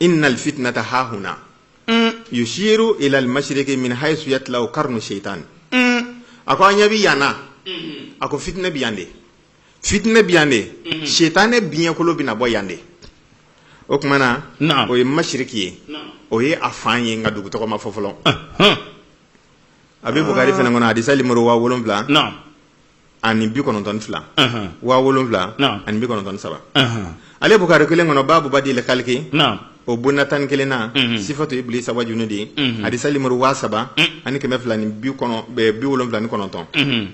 innal fitnata hahuna mm. yushiru ila almashriqi min haythu yatlau qarnu shaytan mm. a ko an ɲɛ bi yan na mm-hmm. a ko fitinɛ bi yan de fitinɛ bi yan de mm-hmm. shaytanɛ biɲɛkolo bɛna bɔ yan de o tuma na o ye mashiriki ye o ye a fan ye nka dugu tɔgɔ ma fɔ fɔlɔ a bɛ bukari fana kɔnɔ hadisa limoro waa wolonwula ani bi kɔnɔntɔn fila waa wolonwula ani bi kɔnɔntɔn saba ale bukari kelen kɔnɔ baabu badil kaliki o bonda tan ni kelen na sifatu iblisa wa junudihi hadisa limoro waa saba ani kɛmɛ fila ni bi wolonwula ni kɔnɔntɔn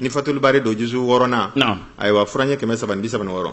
ni fatul baari don juzu wɔɔrɔnan na ayiwa furaɲɛ kɛmɛ saba ni bi saba ni wɔɔrɔ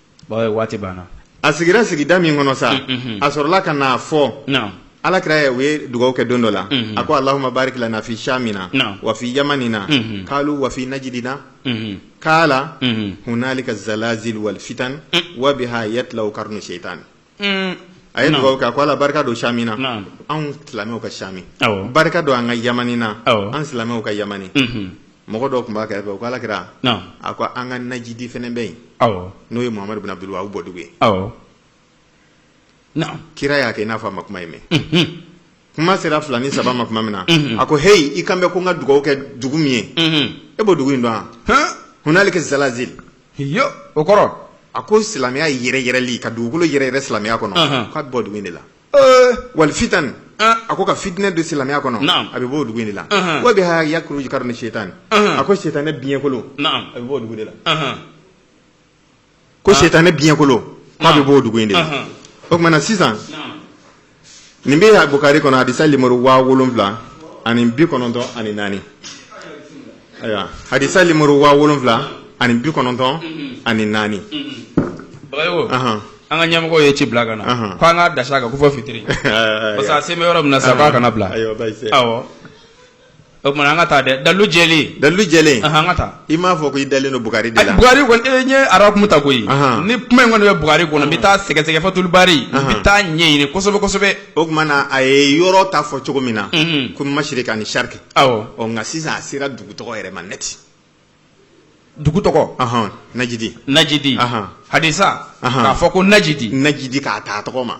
waati banna a sigira sigida min kɔnɔ sa a sɔrɔla ka na fɔ ala kira ye o ye dugawu kɛ don dɔ la a ko allahumma barik lana fi shamina wa fi yamanina qalu wa fi najidina qala hunalika zalazil wal fitan wa biha yatlau qarnu shaytan a ye dugawu kɛ a ko ala barika don shamina anw silamɛw ka shami barika don an ka yamanina an silamɛw ka yamani mɔgɔ dɔ tun b'a kɛrɛfɛ o ko ala kira a ko an ka najidi fana bɛ yen n'o ye muhamadu bin abdul wahabu bɔdugu ye kira y'a kɛ i n'a fɔ a ma kuma in mɛn kuma sera fila ni saba ma tuma min na mhm. a ko heyi i kan bɛ ko n ka dugawu kɛ dugu min ye mhm. e b'o dugu in dɔn wa hunalika zalazil yo o kɔrɔ a ko silamɛya yɛrɛyɛrɛli ka dugukolo yɛrɛyɛrɛ silamɛya kɔnɔ k'a bɛ bɔ dugu in de la wal fitan a ko ka fitinɛ don silamɛya kɔnɔ a bɛ bɔ dugu in de la wa biha yakruju qarnu shaytan a ko setanɛ biɲɛkolo a bɛ bɔ o dugu de la ko setanɛ biɲɛkolo k'a bɛ bɔ dugu in de la o kuma na sisan nin bɛ bukari kɔnɔ hadisa nimoro waa wolonwula ani bi kɔnɔntɔn ani naani ayiwa hadisa nimoro waa wolonwula ani bi kɔnɔntɔn ani naani. bagayogo an ka ɲɛmɔgɔ ye ci bila ka na ko an ka dasa kan ko fɔ fitiri parce que a se bɛ yɔrɔ min na sa k'a kana bila awɔ O kuma na an ka taa dɛ dalu jɛlen dalu jɛlen an ka taa i m'a fɔ ko i dalen don bukari de la bukari e ɲɛ arakumu ta koyi ni kuma in kɔni bɛ bukari kɔnɔ n bɛ taa sɛgɛsɛgɛ fatuli bari n bɛ taa ɲɛɲini kosɛbɛ kosɛbɛ o kuma na a ye yɔrɔ ta fɔ cogo min na ko masiriki ani sariki awɔ nka sisan a sera dugu tɔgɔ yɛrɛ ma neti dugu tɔgɔ najidi najidi hadisa k'a fɔ ko najidi najidi k'a ta a tɔgɔ ma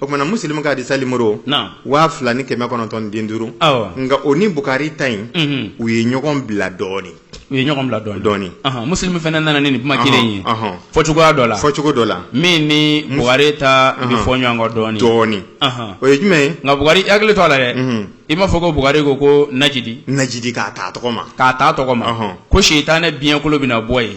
o kuma na musilimu ka hadisa nimoro waa fila ni kɛmɛ kɔnɔntɔn den duuru nka o ni bukari ta in u ye ɲɔgɔn bila dɔɔnin u ye ɲɔgɔn bila dɔɔnin dɔɔnin musilimu fana nana ni kuma kelen ye fɔ cogoya dɔ la fɔ cogo dɔ la min ni bukari ta bɛ fɔ ɲɔgɔn kɔ dɔɔnin dɔɔnin o ye jumɛn ye nka bukari hakili to a la dɛ i b'a fɔ ko bukari ko ko najidi najidi k'a ta a tɔgɔ ma k'a ta a tɔgɔ ma ko setanɛ biɲɛkolo bɛna bɔ yen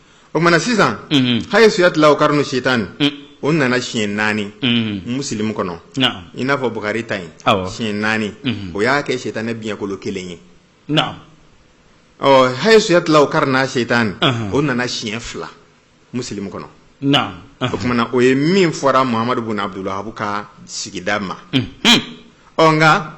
o kuma na sisan hayisu yatilawu karinu setani o nana siɲɛ naani musilimu kɔnɔ i n'a fɔ bukari ta in siɲɛ naani o y'a kɛ setanɛ biɲɛkolo kelen ye ɔ hayisu yatilawu karina setani o nana siɲɛ fila musilimu kɔnɔ o kuma na o ye min fɔra muhamadu bun abudulu wahabu ka sigida ma ɔ nka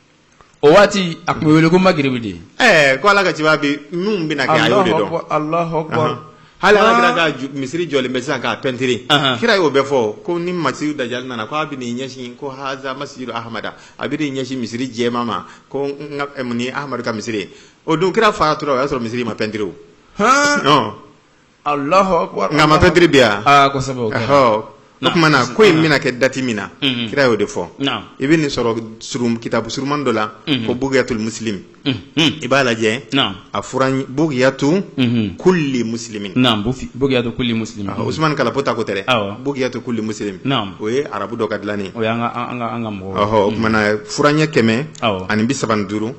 o waati a tun bɛ wele ko magiribi de ɛɛ ko ala ka ciba bi min bɛna kɛ a y'o de dɔn hali ala kira ka misiri jɔlen bɛ sisan k'a pɛntiri kira y'o bɛɛ fɔ ko ni masihu dajali nana ko a bɛ n'i ɲɛsin ko haza masijidu ahamada a bɛ n'i ɲɛsin misiri jɛma ma ko nin ahamadu ka misiri ye o don kira faatura o y'a sɔrɔ misiri ma pɛntiri o nka a ma pɛntiri bi yan o kuma na ko in bɛna kɛ dati min na kira y'o de fɔ i bɛ nin sɔrɔ kitabu surunman dɔ la ko bugiyatu musilimi i b'a lajɛ a furaɲɛ bugiyatu kuli musilimi usumani kalapo ta ko tɛ bugiyatu kuli musilimi o ye arabu dɔ ka dilannen o kuma na furaɲɛ kɛmɛ ani bi saba duuru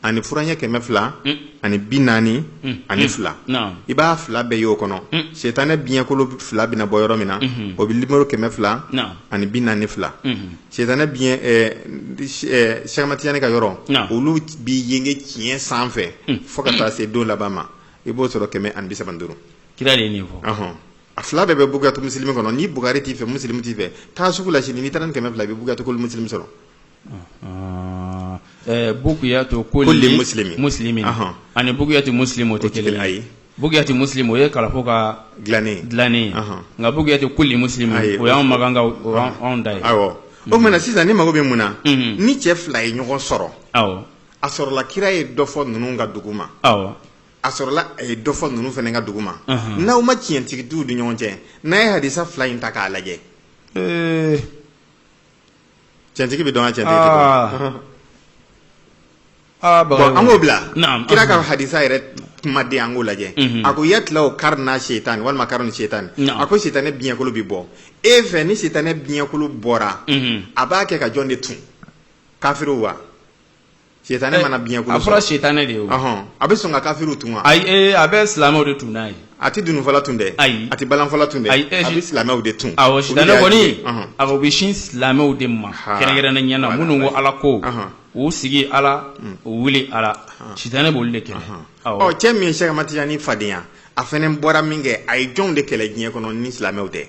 ani furaɲɛ kɛmɛ fila ani bi naani mm. ani fila i b'a fila bɛɛ y'o kɔnɔ mm. setanɛ biɲɛkolo fila bɛna bɔ yɔrɔ min na mm-hmm. o bɛ nimoro kɛmɛ fila ani bi naani fila mm-hmm. setanɛ biɲɛ sɛki amadu tijani ka yɔrɔ olu bi yenge tiɲɛ sanfɛ mm. fo ka taa se don laban ma i b'o sɔrɔ kɛmɛ ani bi saba ni duuru kira de ye nin fɔ a fila bɛɛ bɛ bugiyatu musilimi kɔnɔ ni bukari t'i fɛ musilimi t'i fɛ taa sugu la sini n'i taara ni kɛmɛ fila i bɛ bugiyatu kuli musilimi sɔrɔ Bugiyatu kulli muslimi ani Bugiyatu muslimi o tɛ kelen ayi Bugiyatu muslimi o ye kalafo ka dilannen dilannen nka Bugiyatu kulli muslimi o y'an makan anw da ye o tuma sisan ne mago bɛ mun na ni cɛ fila ye ɲɔgɔn sɔrɔ a sɔrɔla kira ye dɔ fɔ ninnu ka dugu ma a sɔrɔla a ye dɔ fɔ ninnu fana ka dugu ma n'aw ma tiɲɛtigi dɔn u ni ɲɔgɔn cɛ n'a ye hadisa fila in ta k'a lajɛ cɛntigi bɛ dɔn ka cɛntigi tɛ dɔn. Ah, bon, an k'o bila Naam, kira ka anhan. hadisa yɛrɛ kumaden an k'o lajɛ Mhm. a ko yatilawu karina setani walima karinu setani Naam. a ko sitanɛ biɲɛkolo bɛ bɔ e fɛ ni sitanɛ biɲɛkolo bɔra Mhm. a b'a kɛ ka jɔn de tun kafiriw wa Sitanɛ mana biɲɛkolo sɔrɔ. A fɔra sitanɛ de ye o. Ɔhɔn. A bɛ sɔn ka kafiriw tun wa? Ayi ee a bɛ silamɛw de tun n'a ye. A tɛ dununfɔla tun dɛ. Ayi. A tɛ balanfɔla tun dɛ. Ayi ee. A bɛ silamɛw de tun. Awɔ sitanɛ kɔni. Ɔhɔn. Awɔ u bɛ sin silamɛw de ma. Haa. Kɛrɛnkɛrɛnnenya la minnu ko Ala ko. Ɔhɔn. U sigi Ala. Un. U wuli Ala. Ɔhɔn. Sitanɛ b'olu de kɛlɛ. Ɔhɔn. Awɔ. Ɔ cɛ min ye Sɛki Ahmadu Tijani fadenya a fana bɔra min kɛ a ye jɔnw de kɛlɛ diɲɛ kɔnɔ ni silamɛw tɛ?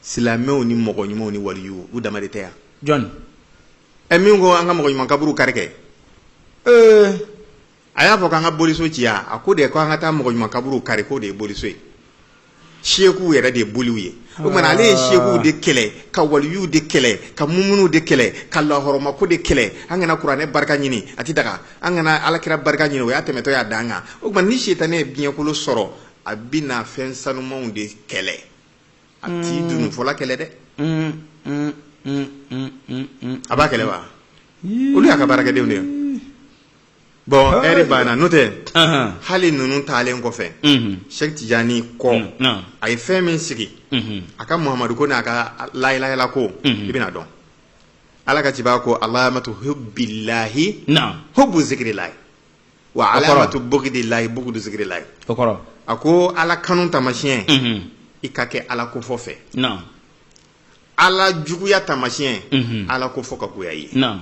Silamɛw ni mɔgɔ ɲumanw ni waliyuw u dama de tɛ wa? Jɔni? ɛ min ko an ka mɔgɔ ɲuman kaburu kari kɛ ee a y'a fɔ k'an ka boliso ci wa a ko de ko an ka taa mɔgɔ ɲuman kaburu kari k'o de ye boliso ye seekuw yɛrɛ de ye boliw ye o kuma na ale ye seekuw de kɛlɛ ka waliyuw de kɛlɛ ka mumunuw de kɛlɛ ka lahɔrɔmako de kɛlɛ an kana kuranɛ barika ɲini a ti daga an kana alakira barika ɲini o y'a tɛmɛtɔ y'a dan kan o kuma na ni sitanɛ ye biɲɛkolo sɔrɔ a bina fɛn sanumanw de kɛlɛ a t'i dununfɔla kɛlɛ dɛ a b'a kɛlɛ wa olu y'a ka baarakɛdenw de ye bon ɛri banna n'o tɛ hali ninnu taalen kɔfɛ sɛki tijani kɔ a ye fɛn min sigi a ka muhamadu ko n'a ka layilayla ko i bɛn'a dɔn ala ka ciba ko alamatu hubbillahi hubbu zikrillahi wa alamatu bugdillahi bugdu zikrillahi o kɔrɔ a ko ala kanu tamasiyɛn Mhm. i ka kɛ ala ko fɔ fɛ naam ala juguya tamasiyɛn Mhm. ala ko fɔ ka goya i ye naam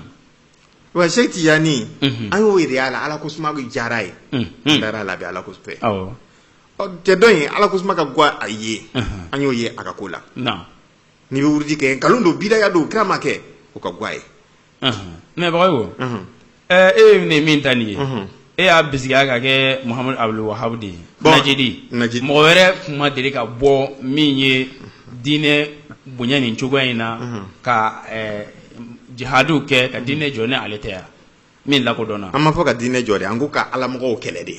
wa sɛki tijani Mhm. an y'o yira aw la ala ko suma diyara a ye Mhm. dara a la a bi ala ko fɛ awɔ Ɔ, cɛ dɔ in ala ko suma ka goya a ye Mhm. an y'o ye a ka ko la naam n'i bɛ wurudi kɛ nkalon don bidaya don kira m'a kɛ o ka goya a ye mɛ Bagayogo e ye min ta nin ye e y'a bisigiya ka kɛ Muhamadu Abdul Wahabu de Najidi mɔgɔ wɛrɛ tun ma deli ka bɔ min ye diinɛ bonya nin cogoya in na ka jihadi kɛ ka diinɛ jɔ ni ale tɛ yan min lakɔdɔnna an m'a fɔ ka diinɛ jɔ dɛ an ko ka alamɔgɔw kɛlɛ de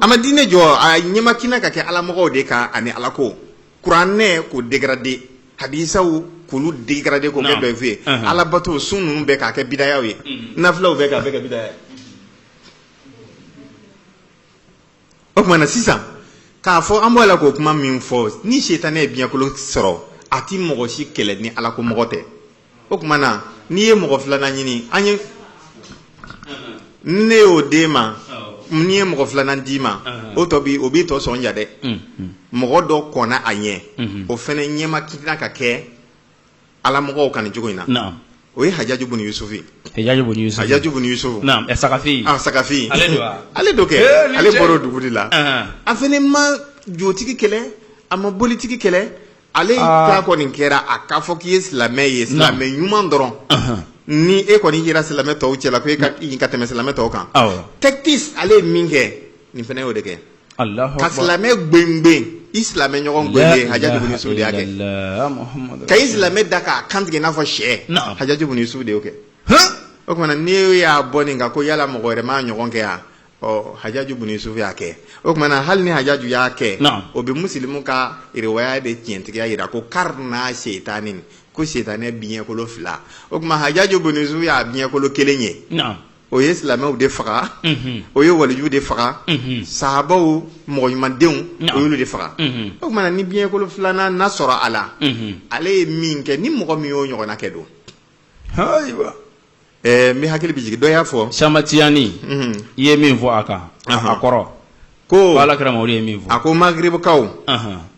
a ma diinɛ jɔ a ɲɛmakina ka kɛ alamɔgɔw de kan ani ala ko kuranɛ k'o dégradé hadisaw k'olu dégradé k'o kɛ Naam. dɔyifu ye Ahan. alabato sun ninnu bɛɛ k'a kɛ bidayaw ye nafilaw bɛɛ k'a bɛɛ kɛ bidaya ye o tuma na sisan k'a fɔ an b'a la k'o kuma min fɔ ni setanɛ ye biɲɛkolo sɔrɔ a ti mɔgɔ si kɛlɛ ni ala ko mɔgɔ tɛ o tuma na n'i ye mɔgɔ filanan ɲini an ye ne y'o d'e ma n ye mɔgɔ filanan d'i ma o tɔ bi o b'i tɔ sɔn ja dɛ mɔgɔ dɔ kɔnna a ɲɛ o fana ɲɛma kina ka kɛ ala mɔgɔw kan nin cogo in na o ye hajaju bun yusufu hajaju bun yusufu sakafi sakafi ale don kɛ ale bɔra o dugu la a fana ma jotigi kɛlɛ a ma bolitigi kɛlɛ Ale ta kɔni kɛra a k'a fɔ k'i ye silamɛ ye silamɛ ɲuman dɔrɔn ni e kɔni yera silamɛ tɔw cɛla ko e ka tɛmɛ silamɛ tɔw kan tactique ale ye min kɛ nin fana y'o de kɛ ka silamɛ gɛngɛn i silamɛ ɲɔgɔn gɛn hajaju bun yusufu de y'a kɛ ka i silamɛ da k'a kantigɛ n'a fɔ sɛ hajaju bun yusufu de y'o kɛ o tuma na n'i y'a bɔ nin kan ko yala mɔgɔ wɛrɛ m'a ɲɔgɔn kɛ yan ɔ hajaju bun yusufu y'a kɛ o tuma na hali ni hajaju y'a kɛ Naam. o bɛ musilimu ka riwaya de tiɲɛtigiya jira ko karina seetanin ko setanɛ biɲɛkolo fila o tuma hajaju bun yusufu y'a biɲɛkolo kelen ye naam o ye silamɛw de faga Mhm. o ye walijuw de faga Mhm. sahabaw mɔgɔ ɲumandenw Naam. o y'olu de faga Mhm. o tuma na ni biɲɛkolo filanan na sɔrɔ a la Mhm. ale ye min kɛ ni mɔgɔ min y'o ɲɔgɔnna kɛ don ayiwa Ɛɛ n hakili bɛ jigin dɔ y'a fɔ samatiyaani i ye min fɔ a kan a kɔrɔ ko ala kira mamadu ye min fɔ a ko magribukaw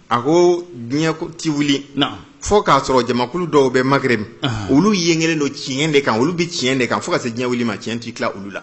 a ko diɲɛ tɛ wuli fo k'a sɔrɔ jamakulu dɔw bɛ magribu olu yengelen don tiɲɛ de kan olu bɛ tiɲɛ de kan fo ka se diɲɛ wuli ma tiɲɛ tɛ tila olu la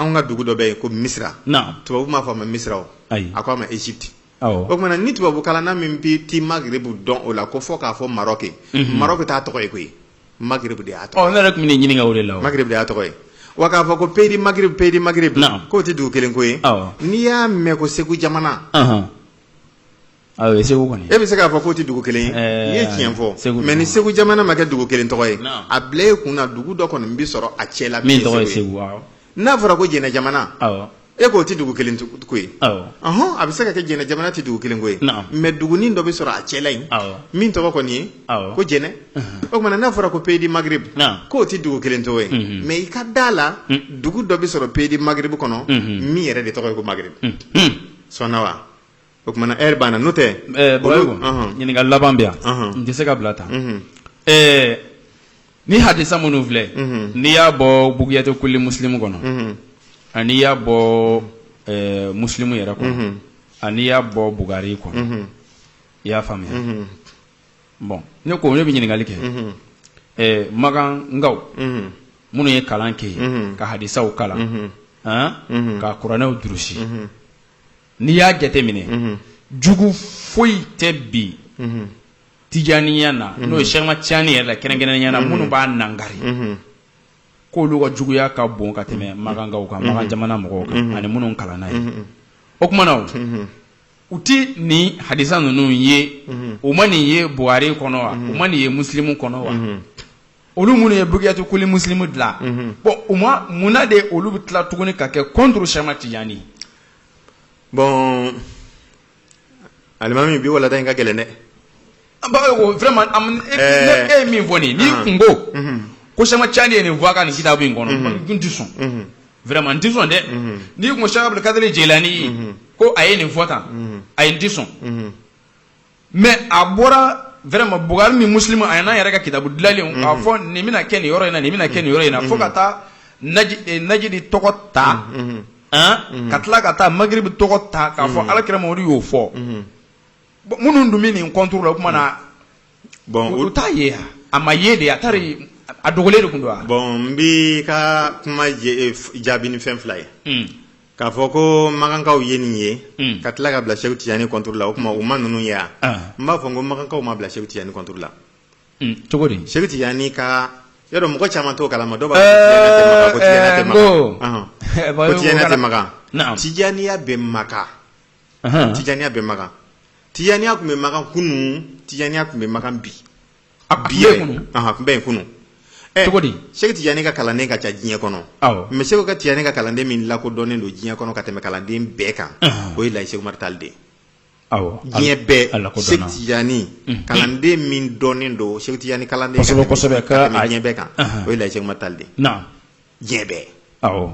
anw ka dugu dɔ bɛ yen ko misira tubabu m'a fɔ a ma misira a ko a ma Egypte o tuma na ni tubabu kalanna min bɛ ti Maghreb dɔn o la ko fɔ k'a fɔ Maroc Maroc t'a tɔgɔ ye koyi Maghreb de y'a tɔgɔ ne yɛrɛ tun bɛ nin ɲininka o de la Maghreb de y'a tɔgɔ ye wa k'a fɔ ko pays du Maghreb pays du Maghreb k'o tɛ dugu kelen ko ye n'i y'a mɛn ko segu jamana Segu kɔni e bɛ se k'a fɔ k'o tɛ dugu kelen ye i ye tiɲɛ fɔ segu mais ni segu jamana ma kɛ dugu kelen tɔgɔ ye a bila e kun na dugu dɔ kɔni bɛ sɔrɔ a cɛ la min tɔgɔ ye segu n'a fɔra ko jɛnɛ jamana e k'o tɛ dugu kelen ko ye ɔɔɔn a bɛ se ka kɛ jɛnɛ jamana tɛ dugu kelen ko ye mais dugu dɔ bɛ sɔrɔ a cɛ la yen min tɔgɔ kɔni ye ko jɛnɛ o tuma na n'a fɔra ko pays du Maghreb k'o tɛ dugu kelen tɔgɔ ye mais i ka da a la dugu dɔ bɛ sɔrɔ pays du Maghreb kɔnɔ min yɛrɛ de tɔgɔ ye ko Maghreb sɔn wa O tuma na heure banna n'o tɛ ɛɛ Baba Umu ɲininkali laban bɛ yan n tɛ se ka bila tan ɛɛ ni hadisa minnu filɛ n'i y'a bɔ Bugiyatu kulli muslimu kɔnɔ ani n'i y'a bɔ ɛɛ muslim yɛrɛ kɔnɔ ani n'i y'a bɔ Bukari kɔnɔ i y'a faamuya bon ne ko ne bɛ ɲininkali kɛ ɛɛ Makankaw minnu ye kalan kɛ yen ka hadisaw kalan han ka kuranɛw durusi. n'i y'a jateminɛ jugu foyi tɛ bi tijaniya na n'o ye Cheikh Ahmad Tijani yɛrɛ la kɛrɛnkɛrɛnnenya na minnu b'a nakari k'olu ka juguya ka bon ka tɛmɛ makankaw kan makan jamana mɔgɔw kan ani minnu kalanna yen o tuma na u tɛ nin hadisa ninnu ye u ma nin ye Buhari kɔnɔ wa u ma nin ye muslimu kɔnɔ wa olu minnu ye Bugiyatu kulli muslimu dilan bon u ma munna de olu bɛ tila tuguni ka kɛ contre Cheikh Ahmad Tijani bon alimami bi walanda in ka gɛlɛn dɛ an b'a ko vraiment am- e Ɛɛ. e ye min fɔ nin n'i Ahan. kun ko Mhm. ko Cheikh Ahmad Tijani ye nin fɔ a ka nin kitabu in kɔnɔ Mhm. n tɛ sɔn Mhm. vraiment n tɛ sɔn dɛ Mhm. n'i kun ko Cheikh Abdul Kadiri Jelani ye Mhm. ko a ye nin fɔ tan Mhm. ayi n tɛ sɔn Mhm. mais a bɔra vraiment Bukari ni muslimu a n'a yɛrɛ ka kitabu dilanlen k'a fɔ nin bɛna kɛ nin yɔrɔ in na nin bɛna kɛ nin yɔrɔ in na fo ka taa Najidi tɔgɔ ta ka tila ka taa Magribu tɔgɔ ta k'a fɔ Ala kira Mamadu y'o fɔ minnu dun bɛ nin contre la o tuma na bon olu t'a ye a ma ye de a tari a dogolen de tun don bon n b'i ka kuma jaabi ni fɛn fila ye k'a fɔ ko makankaw ye nin ye hmm. ka tila ka bila Seku Tijani contre la o tuma u ma ninnu ye wa ah. n b'a fɔ n ko makankaw ma bila Seku Tijani contre la hmm, cogo di Seku Tijani ka yɔrɔ mɔgɔ caman t'o kalama dɔw b'a fɔ ko Tijaniya tɛ Makan ko Tijaniya tɛ Makan Tijaniya bɛ Makan Tijaniya bɛ Makan Tijaniya tun bɛ Makan kunun Tijaniya tun bɛ Makan bi a kun bɛ kunun a kun bɛ yen kunun cogo di Sɛki Tijani ka kalanden ka ca diɲɛ kɔnɔ awɔ mais Sɛki Tijani ka kalanden min lakodɔnnen don diɲɛ kɔnɔ ka tɛmɛ kalanden bɛɛ kan o ye Laji Sɛki Umaru Tali de ye awɔ diɲɛ bɛɛ a lakodɔnna Sɛki Tijani kalanden min dɔnnen don Sɛki Tijani kalanden kosɛbɛ kosɛbɛ ka tɛmɛ diɲɛ bɛɛ kan o ye Laji Sɛki Umaru Tali de ye naam diɲɛ bɛɛ awɔ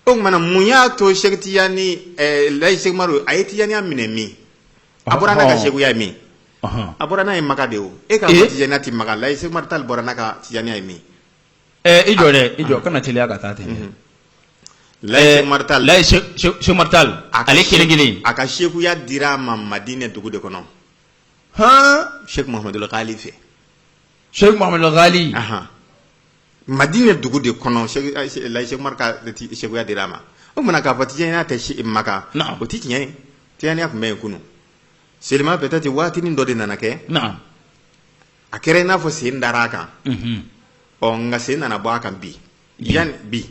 o tuma na mun y'a to Sɛki Tijani ɛɛ Laji Sɛki Umaru a ye Tijaniya minɛ min a bɔra n'a ka sekuya ye min a bɔra n'a ye Makan de o e ka Tijaniya tɛ Makan Laji Sɛki Umaru Tali bɔra n'a ka Tijaniya ye min i jɔ dɛ i jɔ kana teliya ka taa ten Laji Sɛki Umaru Tali a ale kelen kelen a ka sekuya dira a ma Madinɛ dugu de kɔnɔ hɔn Sɛki Muhammadul Gali fɛ Sɛki Muhammadul Gali madinɛ dugu de kɔnɔ laji seku umaru ka sekuya dira a ma o tuma na k'a fɔ tijaniya tɛ makan o tɛ tiɲɛ ye tijaniya tun bɛ yen kunun seulement peut-être waatinin dɔ de nana kɛ a kɛra i n'a fɔ sen dara a kan ɔ nka sen nana bɔ a kan bi yan bi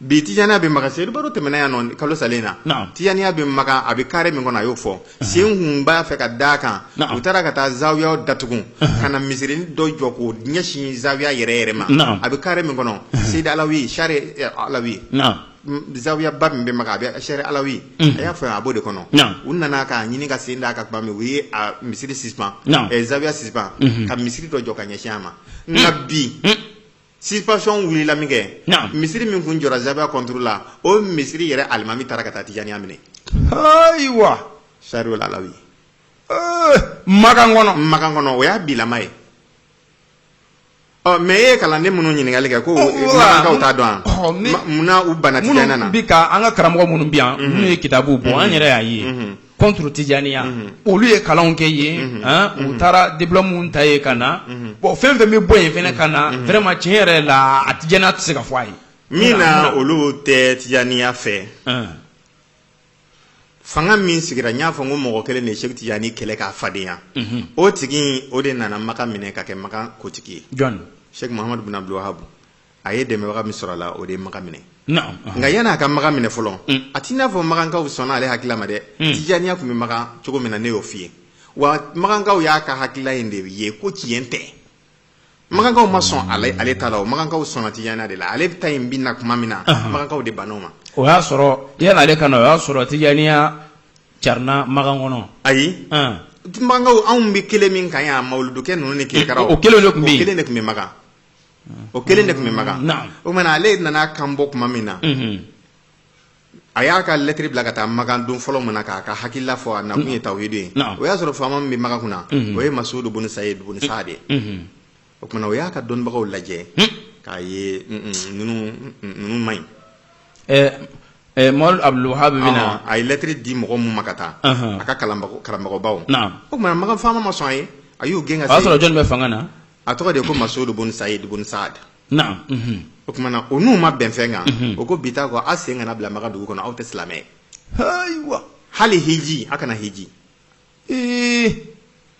bi tijaniya bɛ makan seyidu baro tɛmɛna yan nɔ kalo salen na Naam. tijaniya bɛ makan a bɛ kare min kɔnɔ a y'o fɔ sen kun b'a fɛ ka da a kan Naam. u taara ka taa zawiyaw datugu ka na misirinin dɔ jɔ k'o ɲɛsin zawiya yɛrɛ yɛrɛ ma Naam. a bɛ kare min kɔnɔ seyidi alawi sare eh, alawi naam m- zawiyaba min bɛ makan a bɛ sare alawi a y'a fɔ yan a b'o de kɔnɔ Naam. u nana k'a ɲini ka sen da a kan tuma min u ye a misiri suspend Naam. eh, zawiya suspend ka misiri dɔ jɔ ka ɲɛsin a ma nka bi Suspension wulila minkɛ misiri min tun jɔra zawiya contre la o misiri yɛrɛ alimami taara ka taa tijaniya minɛ ayiwa sare alawi makan kɔnɔ makan kɔnɔ o y'a bilama ye ɔ mais e ye kalanden minnu ɲininkali kɛ ko t'a dɔn munna u banna an ka karamɔgɔ minnu bi yan minnu ye kitabu bɔ an yɛrɛ y'a ye contre Tijaniya olu ye kalanw kɛ yen u taara diplôme ta yen ka na bon fɛn fɛn bɛ bɔ yen fɛnɛ ka na vraiment tiɲɛ yɛrɛ la a Tijaniya tɛ se ka fɔ a ye min na olu tɛ Tijaniya fɛ fanga min sigira n y'a fɔ n ko mɔgɔ kelen de ye Seku Tijani kɛlɛ k'a fadenya o tigi o de nana Makan minɛ ka kɛ Makan kotigi ye jɔni Seku Muhamadu bin Abdul Wahabu a ye dɛmɛbaga min sɔrɔ a la o de ye makan minɛ nka yann'a ka makan minɛ fɔlɔ a t'i n'a fɔ makankaw sɔnna ale hakilila ma dɛ tijaniya tun bɛ makan cogo min na ne y'o fɔ i ye wa makankaw y'a ka hakilila in de ye ko tiɲɛ tɛ makankaw ma sɔn ale ta la o makankaw sɔnna tijaniya de la ale ta in bɛ na tuma min na makankaw de banna o ma o y'a sɔrɔ yanni ale ka na o y'a sɔrɔ tijaniya carina makan kɔnɔ ayi makankaw anw bɛ kelen min kan yan mawuludu kɛ ninnu ni ke o kelen de tun bɛ yen o kelen de tun bɛ makan o kelen de tun bɛ makan o tuma ale nana kan bɔ tuma min na a y'a ka lɛtiri bila ka taa makan don fɔlɔ min na k'a ka hakilila fɔ a nakun ye tawhidu ye o y'a sɔrɔ faama min bɛ makan kunna o ye masudu bun sayid bun saad ye o tumana o y'a ka dɔnnibagaw lajɛ k'a ye ninnu ma ɲi muhamadu abdul wahab bɛ na a ye lɛtiri di mɔgɔ min ma ka taa a ka karamɔgɔbaw o tumana makan faama ma sɔn a ye a y'u gɛn ka sɔrɔ jɔn bɛ fanga na a tɔgɔ de ko masudu bun sayid bun saad naam mhm. o tumana o n'u ma bɛn fɛn kan mhm. o ko bi ta kɔ a sen kana bila makan dugu kɔnɔ aw tɛ silamɛ ye ayiwa hali hiji a kana hiji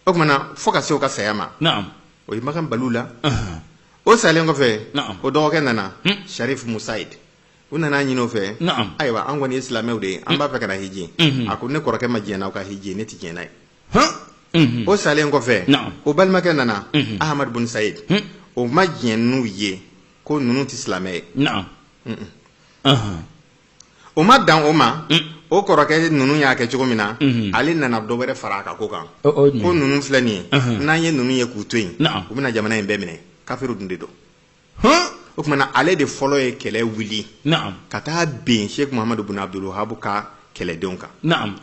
o tumana fo ka se o ka saya ma naam o ye makan bali u la o salen kɔfɛ o dɔgɔkɛ nana hmm. sharif musayid u nan'a ɲini o fɛ ayiwa an kɔni ye silamɛw de ye an b'a fɛ ka na hiji mhm. a ko ne kɔrɔkɛ ma diɲɛ n'aw ka hiji ne tɛ diɲɛ n'a ye o salen kɔfɛ o balimakɛ nana ahamadu bun sayidi o ma diɲɛ n'u ye ko ninnu tɛ silamɛ ye o ma dan o ma o kɔrɔkɛ ninnu y'a kɛ cogo min na ale nana dɔ wɛrɛ fara a ka ko kan ko ninnu filɛ nin ye n'an ye ninnu ye k'u to yen u bɛna jamana in bɛɛ minɛ kafiri dun de don o kumana ale de fɔlɔ ye kɛlɛ wuli ka taa ben sɛki muhamadu bun abdul wahab ka kɛlɛdenw kan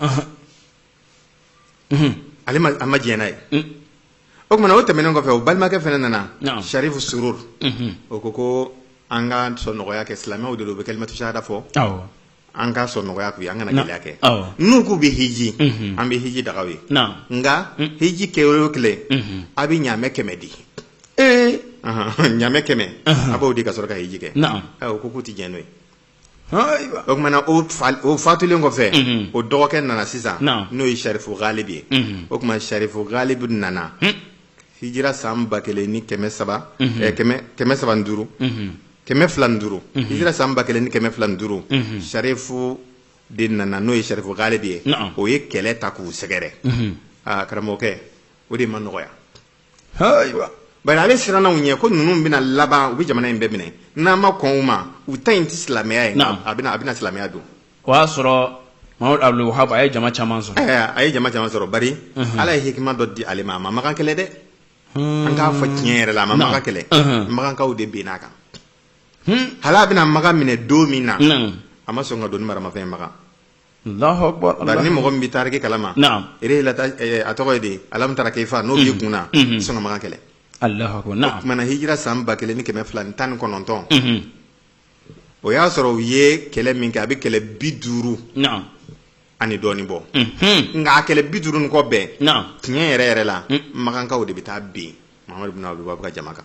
ale a ma diɲɛ n'a ye o kumana o tɛmɛnen kɔfɛ o balimakɛ fɛnɛ nana sarifu sururu o ko ko an ka sɔn nɔgɔya kɛ silamɛw de don u bɛ kalimatu sahada fɔ an ka sɔn nɔgɔya k'u ye an kana gɛlɛya kɛ n'u k'u bɛ hiji an bɛ hiji daga u ye nka hiji kɛ o kelen a bɛ ɲamɛ kɛmɛ di ee ɲamɛ kɛmɛ a b'o di ka sɔrɔ ka hiji kɛ o ko k'u tɛ diɲɛ n'o ye o kumana o fatulen kɔfɛ o dɔgɔkɛ nana sisan n'o ye sarifu galibe ye o kuma sarifu galibe nana hijira san ba kelen ni kɛmɛ saba kɛmɛ saba duuru kɛmɛ fila duuru hijira san ba kelen ni kɛmɛ fila duuru sarifu de nana n'o ye sarifu galibe ye o ye kɛlɛ ta k'u sɛgɛrɛ aa karamɔgɔkɛ o de ma nɔgɔya ayiwa bari ale siranna u ɲɛ ko ninnu bɛna laban u bɛ jamana in bɛɛ minɛ n'an ma kɔn u ma u ta in tɛ silamɛya ye Naam. a bɛna a bɛna silamɛya don o y'a sɔrɔ mamadu abdul wahab a ye jama caman sɔrɔ Ɛɛ, a ye jama caman sɔrɔ bari ala ye hikima dɔ di ale ma a ma makan kɛlɛ dɛ an k'a fɔ tiɲɛ yɛrɛ la a ma Naam. makan kɛlɛ Mhm. makankaw de benna a kan Hmm. hali a bɛna makan minɛ don min na Naam. a ma sɔn ka don ni maramafɛn ye makan Ni mɔgɔ min bɛ taariki kalama a tɔgɔ ye de alamu tara keyifa n'o b'i kun na sɔn ka makan kɛlɛ o kumana hijira san ba kelen ni kɛmɛ fila ni tan ni kɔnɔntɔn o y'a sɔrɔ u ye kɛlɛ min kɛ a bɛ kɛlɛ bi duuru ani dɔɔnin bɔ nka a kɛlɛ bi duuru ni kɔ bɛɛ tiɲɛ yɛrɛ yɛrɛ la makankaw de bɛ taa bin muhamadu bin abdul wahab ka jama kan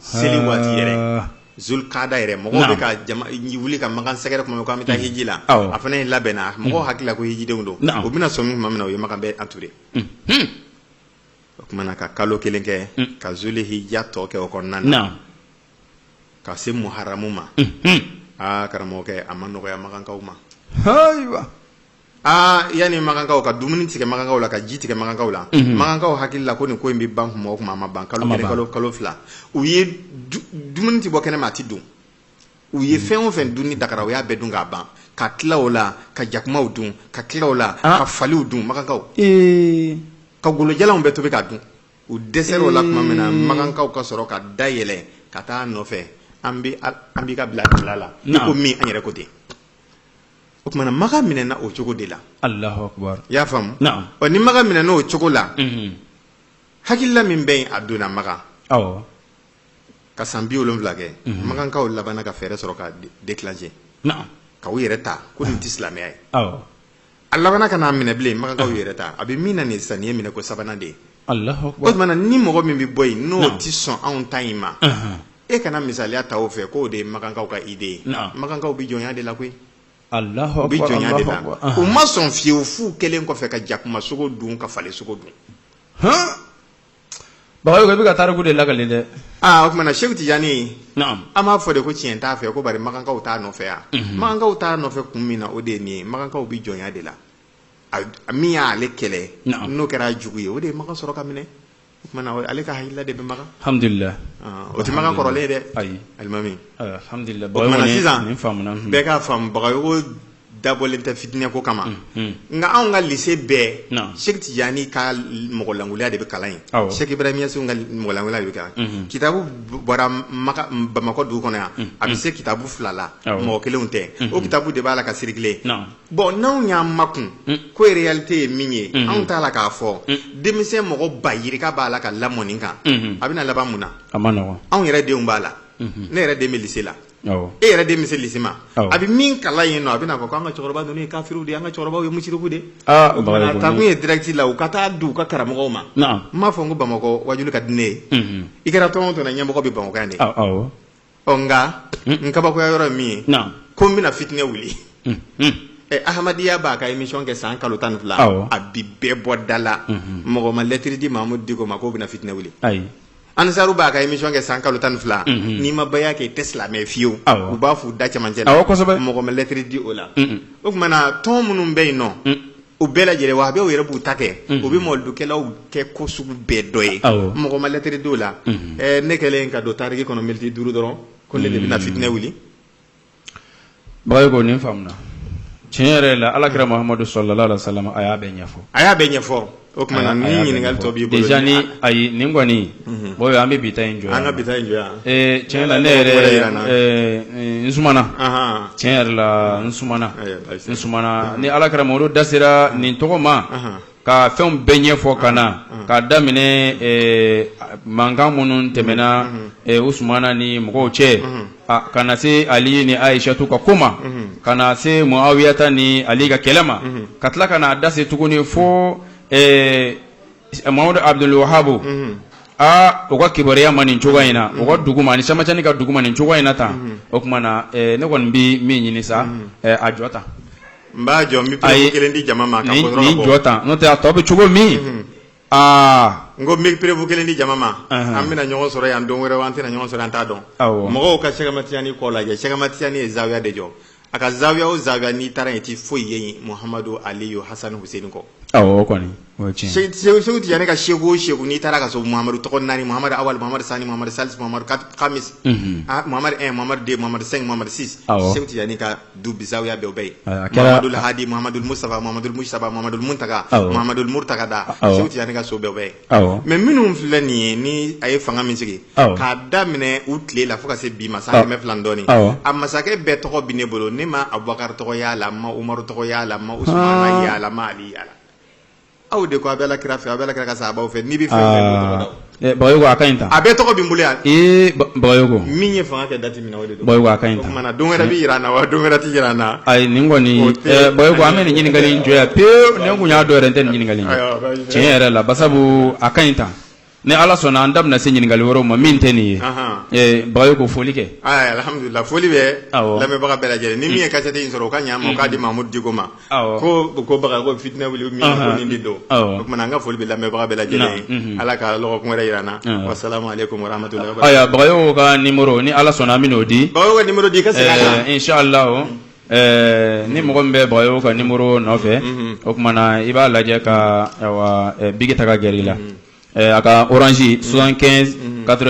seli waati yɛrɛ zulukada yɛrɛ mɔgɔw bɛ ka jama wuli ka makan sɛgɛrɛ kuma min k'an bɛ taa hiji la a fana ye labɛnna mɔgɔw hakili la ko hijidenw don u bɛna sɔmi tuma min na u ye makan bɛɛ anture o kumana ka kalo kelen kɛ ka zuli hija tɔ kɛ o kɔnɔna na ka se muharamu ma aa karamɔgɔkɛ a ma nɔgɔya makankaw ma aa yanni makankaw ka dumuni tigɛ makankaw la ka ji tigɛ makankaw la mhm. makankaw hakili la ko nin ko in bɛ ban kuma o kuma a ma ban kalo kelen kalo kalo fila u ye dumuni tɛ bɔ kɛnɛ ma a tɛ dun u ye mhm. fɛn o fɛn dunni dagara u y'a bɛɛ dun k'a ban ka tila o la ka jakumaw dun ka tila o la ah. ka faliw dun makankaw ka golojalanw bɛɛ tobi ka dun u dɛsɛra o la tuma min na makankaw ka sɔrɔ ka da yɛlɛ ka taa nɔfɛ an bɛ an b'i ka bila bila la i ko min an yɛrɛ ko ten o kumana makan minɛna o cogo de la allahu akbar i y'a faamu ɔ ni makan minɛna o cogo la hakilila min bɛ yen a donna makan ka san bi wolonwula kɛ makankaw labanna ka fɛɛrɛ sɔrɔ ka déclencher ka u yɛrɛ ta ko nin tɛ silamɛya ye a labanna ka n'a minɛ bilen makankaw yɛrɛ ta a bɛ min na nin sisan nin ye minɛ ko sabanan de ye o tumana ni mɔgɔ min bɛ bɔ yen n'o tɛ sɔn anw ta in ma e kana misaliya ta o fɛ k'o de ye makankaw ka idée ye makankaw bɛ jɔnya de la koyi u bɛ jɔnya de la u ma sɔn fiyewu fo kɛlɛ kɔfɛ ka jakuma sogo dun ka fali sogo dun bagayogo i bɛ ka tariku de lakale dɛ aa o tumana seku tijani an b'a fɔ de ko tiɲɛ t'a fɛ ko bari makankaw t'a nɔfɛ yan makankaw t'a nɔfɛ kun min na o de ye nin ye makankaw bɛ jɔnya de la min y'ale kɛlɛ n'o kɛra jugu ye o de ye makan sɔrɔ ka minɛ o ale ka hakilila de bɛ makan alhamdulillah o tɛ makan kɔrɔlen dɛ alimami sisan bɛɛ k'a faamu bagayogo dabɔlen tɛ fitinɛ ko kama nka anw ka lycée bɛɛ seku tijani ka mɔgɔlankuliya de bɛ kalan yen seku ibrahim ɲasi ka mɔgɔlankuliya de bɛ kalan kitabu bɔra bamakɔ dugu kɔnɔ yan a bɛ se kitabu fila la mɔgɔ kelenw tɛ o kitabu de b'a la ka circuler bon n'anw y'an makun ko réalité ye min ye anw t'a la k'a fɔ denmisɛn mɔgɔ ba yirika b'a la ka lamɔ nin kan a bɛna laban mun na anw yɛrɛ denw b'a la ne yɛrɛ den bɛ lycée la e yɛrɛ den bɛ se lycée ma a bɛ min kalan yen nɔ a bɛna fɔ ko an ka cɛkɔrɔba ninnu ye kafiriw de ye an ka cɛkɔrɔbaw ye musiriku de takun ye direct la u ka taa di u ka karamɔgɔw ma n m'a fɔ n ko bamakɔ wajulu ka di ne ye i kɛra tɔn o tɔn na ɲɛmɔgɔ bɛ bamakɔ yan de ɔ nka n kabakoya yɔrɔ ye min ye Naamu. ko n bɛna fitinɛ wuli ɛ ahmadiya b'a ka émission kɛ san kalo tan ni fila Awɔ. a bi bɛɛ bɔ da la mɔgɔ ma lɛtiri di mahamudu diko ma k'o bɛna fitinɛ wuli ayi ansaru b'a ka émission kɛ san kalo tan ni fila Mhm. n'i ma baya kɛ i tɛ silamɛ ye fiyewu Awɔ. u b'a f'u da cɛmancɛ la Awɔ, kosɛbɛ. mɔgɔ ma lɛtiri di o la Mhm. o kumana tɔn minnu bɛ yen nɔ u bɛɛ lajɛlen wahabiw yɛrɛ b'u ta kɛ u bɛ mɔlidukɛlaw kɛ ko sugu bɛɛ dɔ ye mɔgɔ ma lɛtiri di o la ne kɛlen ka don tariki kɔnɔ miniti duuru dɔrɔn ko ne de bɛna fitinɛ wuli bagayogo ko nin faamuna tiɲɛ yɛrɛ la alakira mahamadu sallallahu alaihi wasallam a y'a bɛɛ ɲɛfɔ a y'a bɛɛ ɲɛfɔ o tuma ɲininkali tɔ ayi nin kɔni bon an bɛ bi ta in jɔ an ka bi ta in jɔ yan tiɲɛ la ne n tiɲɛ yɛrɛ la n sumana ni alakira mahamadu da sera nin tɔgɔ ma ka fɛn bɛɛ ɲɛfɔ ka na ka daminɛ mankan minnu tɛmɛna usumana ni mɔgɔw cɛ ka na se ali ni ayisatu ka ko ma ka na se muawiyata ni ali ka kɛlɛ ma ka tila ka na dase tuguni fo Mamadu Abuduli wahabu aa u ka kibaruya ma nin cogoya in na u ka dugu ma ni Sɛki Amadu Tijani ka dugu ma nin cogoya in na tan o tuma na ne kɔni bɛ min ɲini sa a jɔ tan n b'a jɔ n bɛ perewu kelen di jama ma jɔ tan n'o tɛ a tɔ bɛ cogo min aa n ko n bɛ perewu kelen di jama ma an bɛna ɲɔgɔn sɔrɔ yan don wɛrɛ an tɛna ɲɔgɔn sɔrɔ an t'a dɔn mɔgɔw ka Sɛki Amadu Tijani ko lajɛ Sɛki Amadu Tijani ye zawiya de jɔ a ka zawiya o zawiya n'i taara yen i tɛ foyi ye yen muhamadu aliyu hasani hussein kɔ Sɛku Tijani ka sɛku o sɛku n'i taara k'a sɔrɔ mamadu tɔgɔ naani mamadu awali mamadu sani mamadu salisi mamadu kamisi mamadu un mamadu deux mamadu cinq mamadu six Sɛku Tijani ka du zawiya dɔw bɛ yen mamadu lahadi mamadu musitafa mamadu mujitaba mamadu muntaka mamadu murutada Sɛku Tijani ka so dɔw bɛ yen mɛ minnu filɛ nin ye ni a ye fanga min sigi k'a daminɛ u tile la fo ka se bi ma san kɛmɛ fila dɔɔnin a masakɛ bɛɛ tɔgɔ bɛ ne bolo ne ma Abubakari tɔgɔ y'a la ma umaru tɔgɔ y'a la ma Usumana y'a la ma ali y'a la aw de ko a bɛ kira fɛ a bɛ kira ka sahabaw fɛ n'i bɛ fɛ a bɛɛ tɔgɔ bɛ n bolo yan min ye fanga kɛ dati min na don wɛrɛ bɛ jira an na wa don wɛrɛ tɛ jira an na ayi nin kɔni an bɛ nin ɲininkali in jɔ yan pewu ne tun y'a dɔn yɛrɛ n tɛ ɲininkali tiɲɛ yɛrɛ la basabu a ka ɲi tan Ni ala sɔnna an da bɛna se ɲininkakali yɔrɔ ma min tɛ nin ye ba ko foli kɛ foli bɛ lamɛnbaga bɛɛ lajɛlen ni min ye kasɛden in sɔrɔ ka ɲa k'a di mamu diko ma ko ko ko fitinɛ wuli min de don o tuma an ka foli bɛ lamɛnbaga bɛɛ lajɛlen ala ka dɔgɔkun wɛrɛ jira na ko ka ni ni ala sɔnna an bɛ'o di di la Ɛɛ ni mɔgɔ min bɛ baga o ka ni muru nɔfɛ o tumaumana i b'a lajɛ ka bi ta ka g la a ka oransi son kɛ kato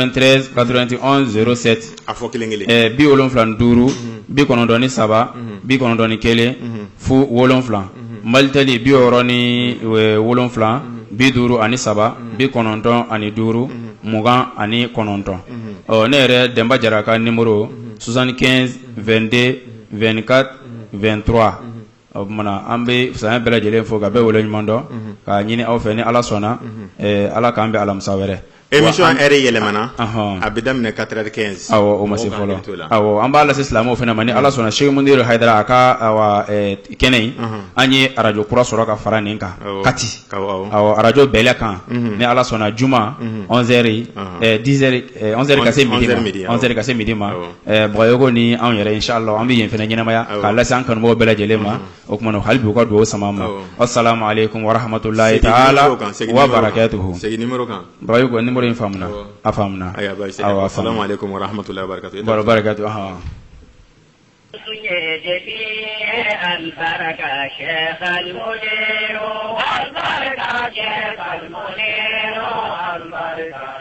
kato a fɔ kelen bi wolonwula duuru bi kɔnɔn2 saba bi kɔnɔn2 kelen fo wɔwula mali tɛli bi ni wolonwula bi duuru ani saba bi kɔnɔntɔn ani duuru mugan ani kɔnɔntɔn ɔ ne yɛrɛ denba jɛra ka ni muru sonsan 2den vka vtura o tumaumana an bɛ san bɛɛ lajɛlen fo ka bɛ wele ɲuman dɔn ka ɲini aw fɛ ni ala sɔnna ala k'an bɛ alamisa wɛrɛ e yɛlɛmana a bɛ daminɛ ka kɛ o ma se fɔlɔ an b'a lase silamɛ fana ma ni ala sɔnna se mun ha a ka kɛnɛ an ye arajo kura sɔrɔ ka fara nin kan kati arajo bɛɛlɛ kan ni ala sɔnna juma zri dizri ka se mi ma Bayɔkɔ ni anw yɛrɛ inshallah an bɛ yen fana ɲɛnamaya k'a lase an kanumɔgɔw bɛɛ lajɛlen ma o tuma na hali bi u ka dugawu sama ma assalamu alaikum wa rahmatullahi taala wa barakatuhu nimɔrɔ in faamuna a faamuna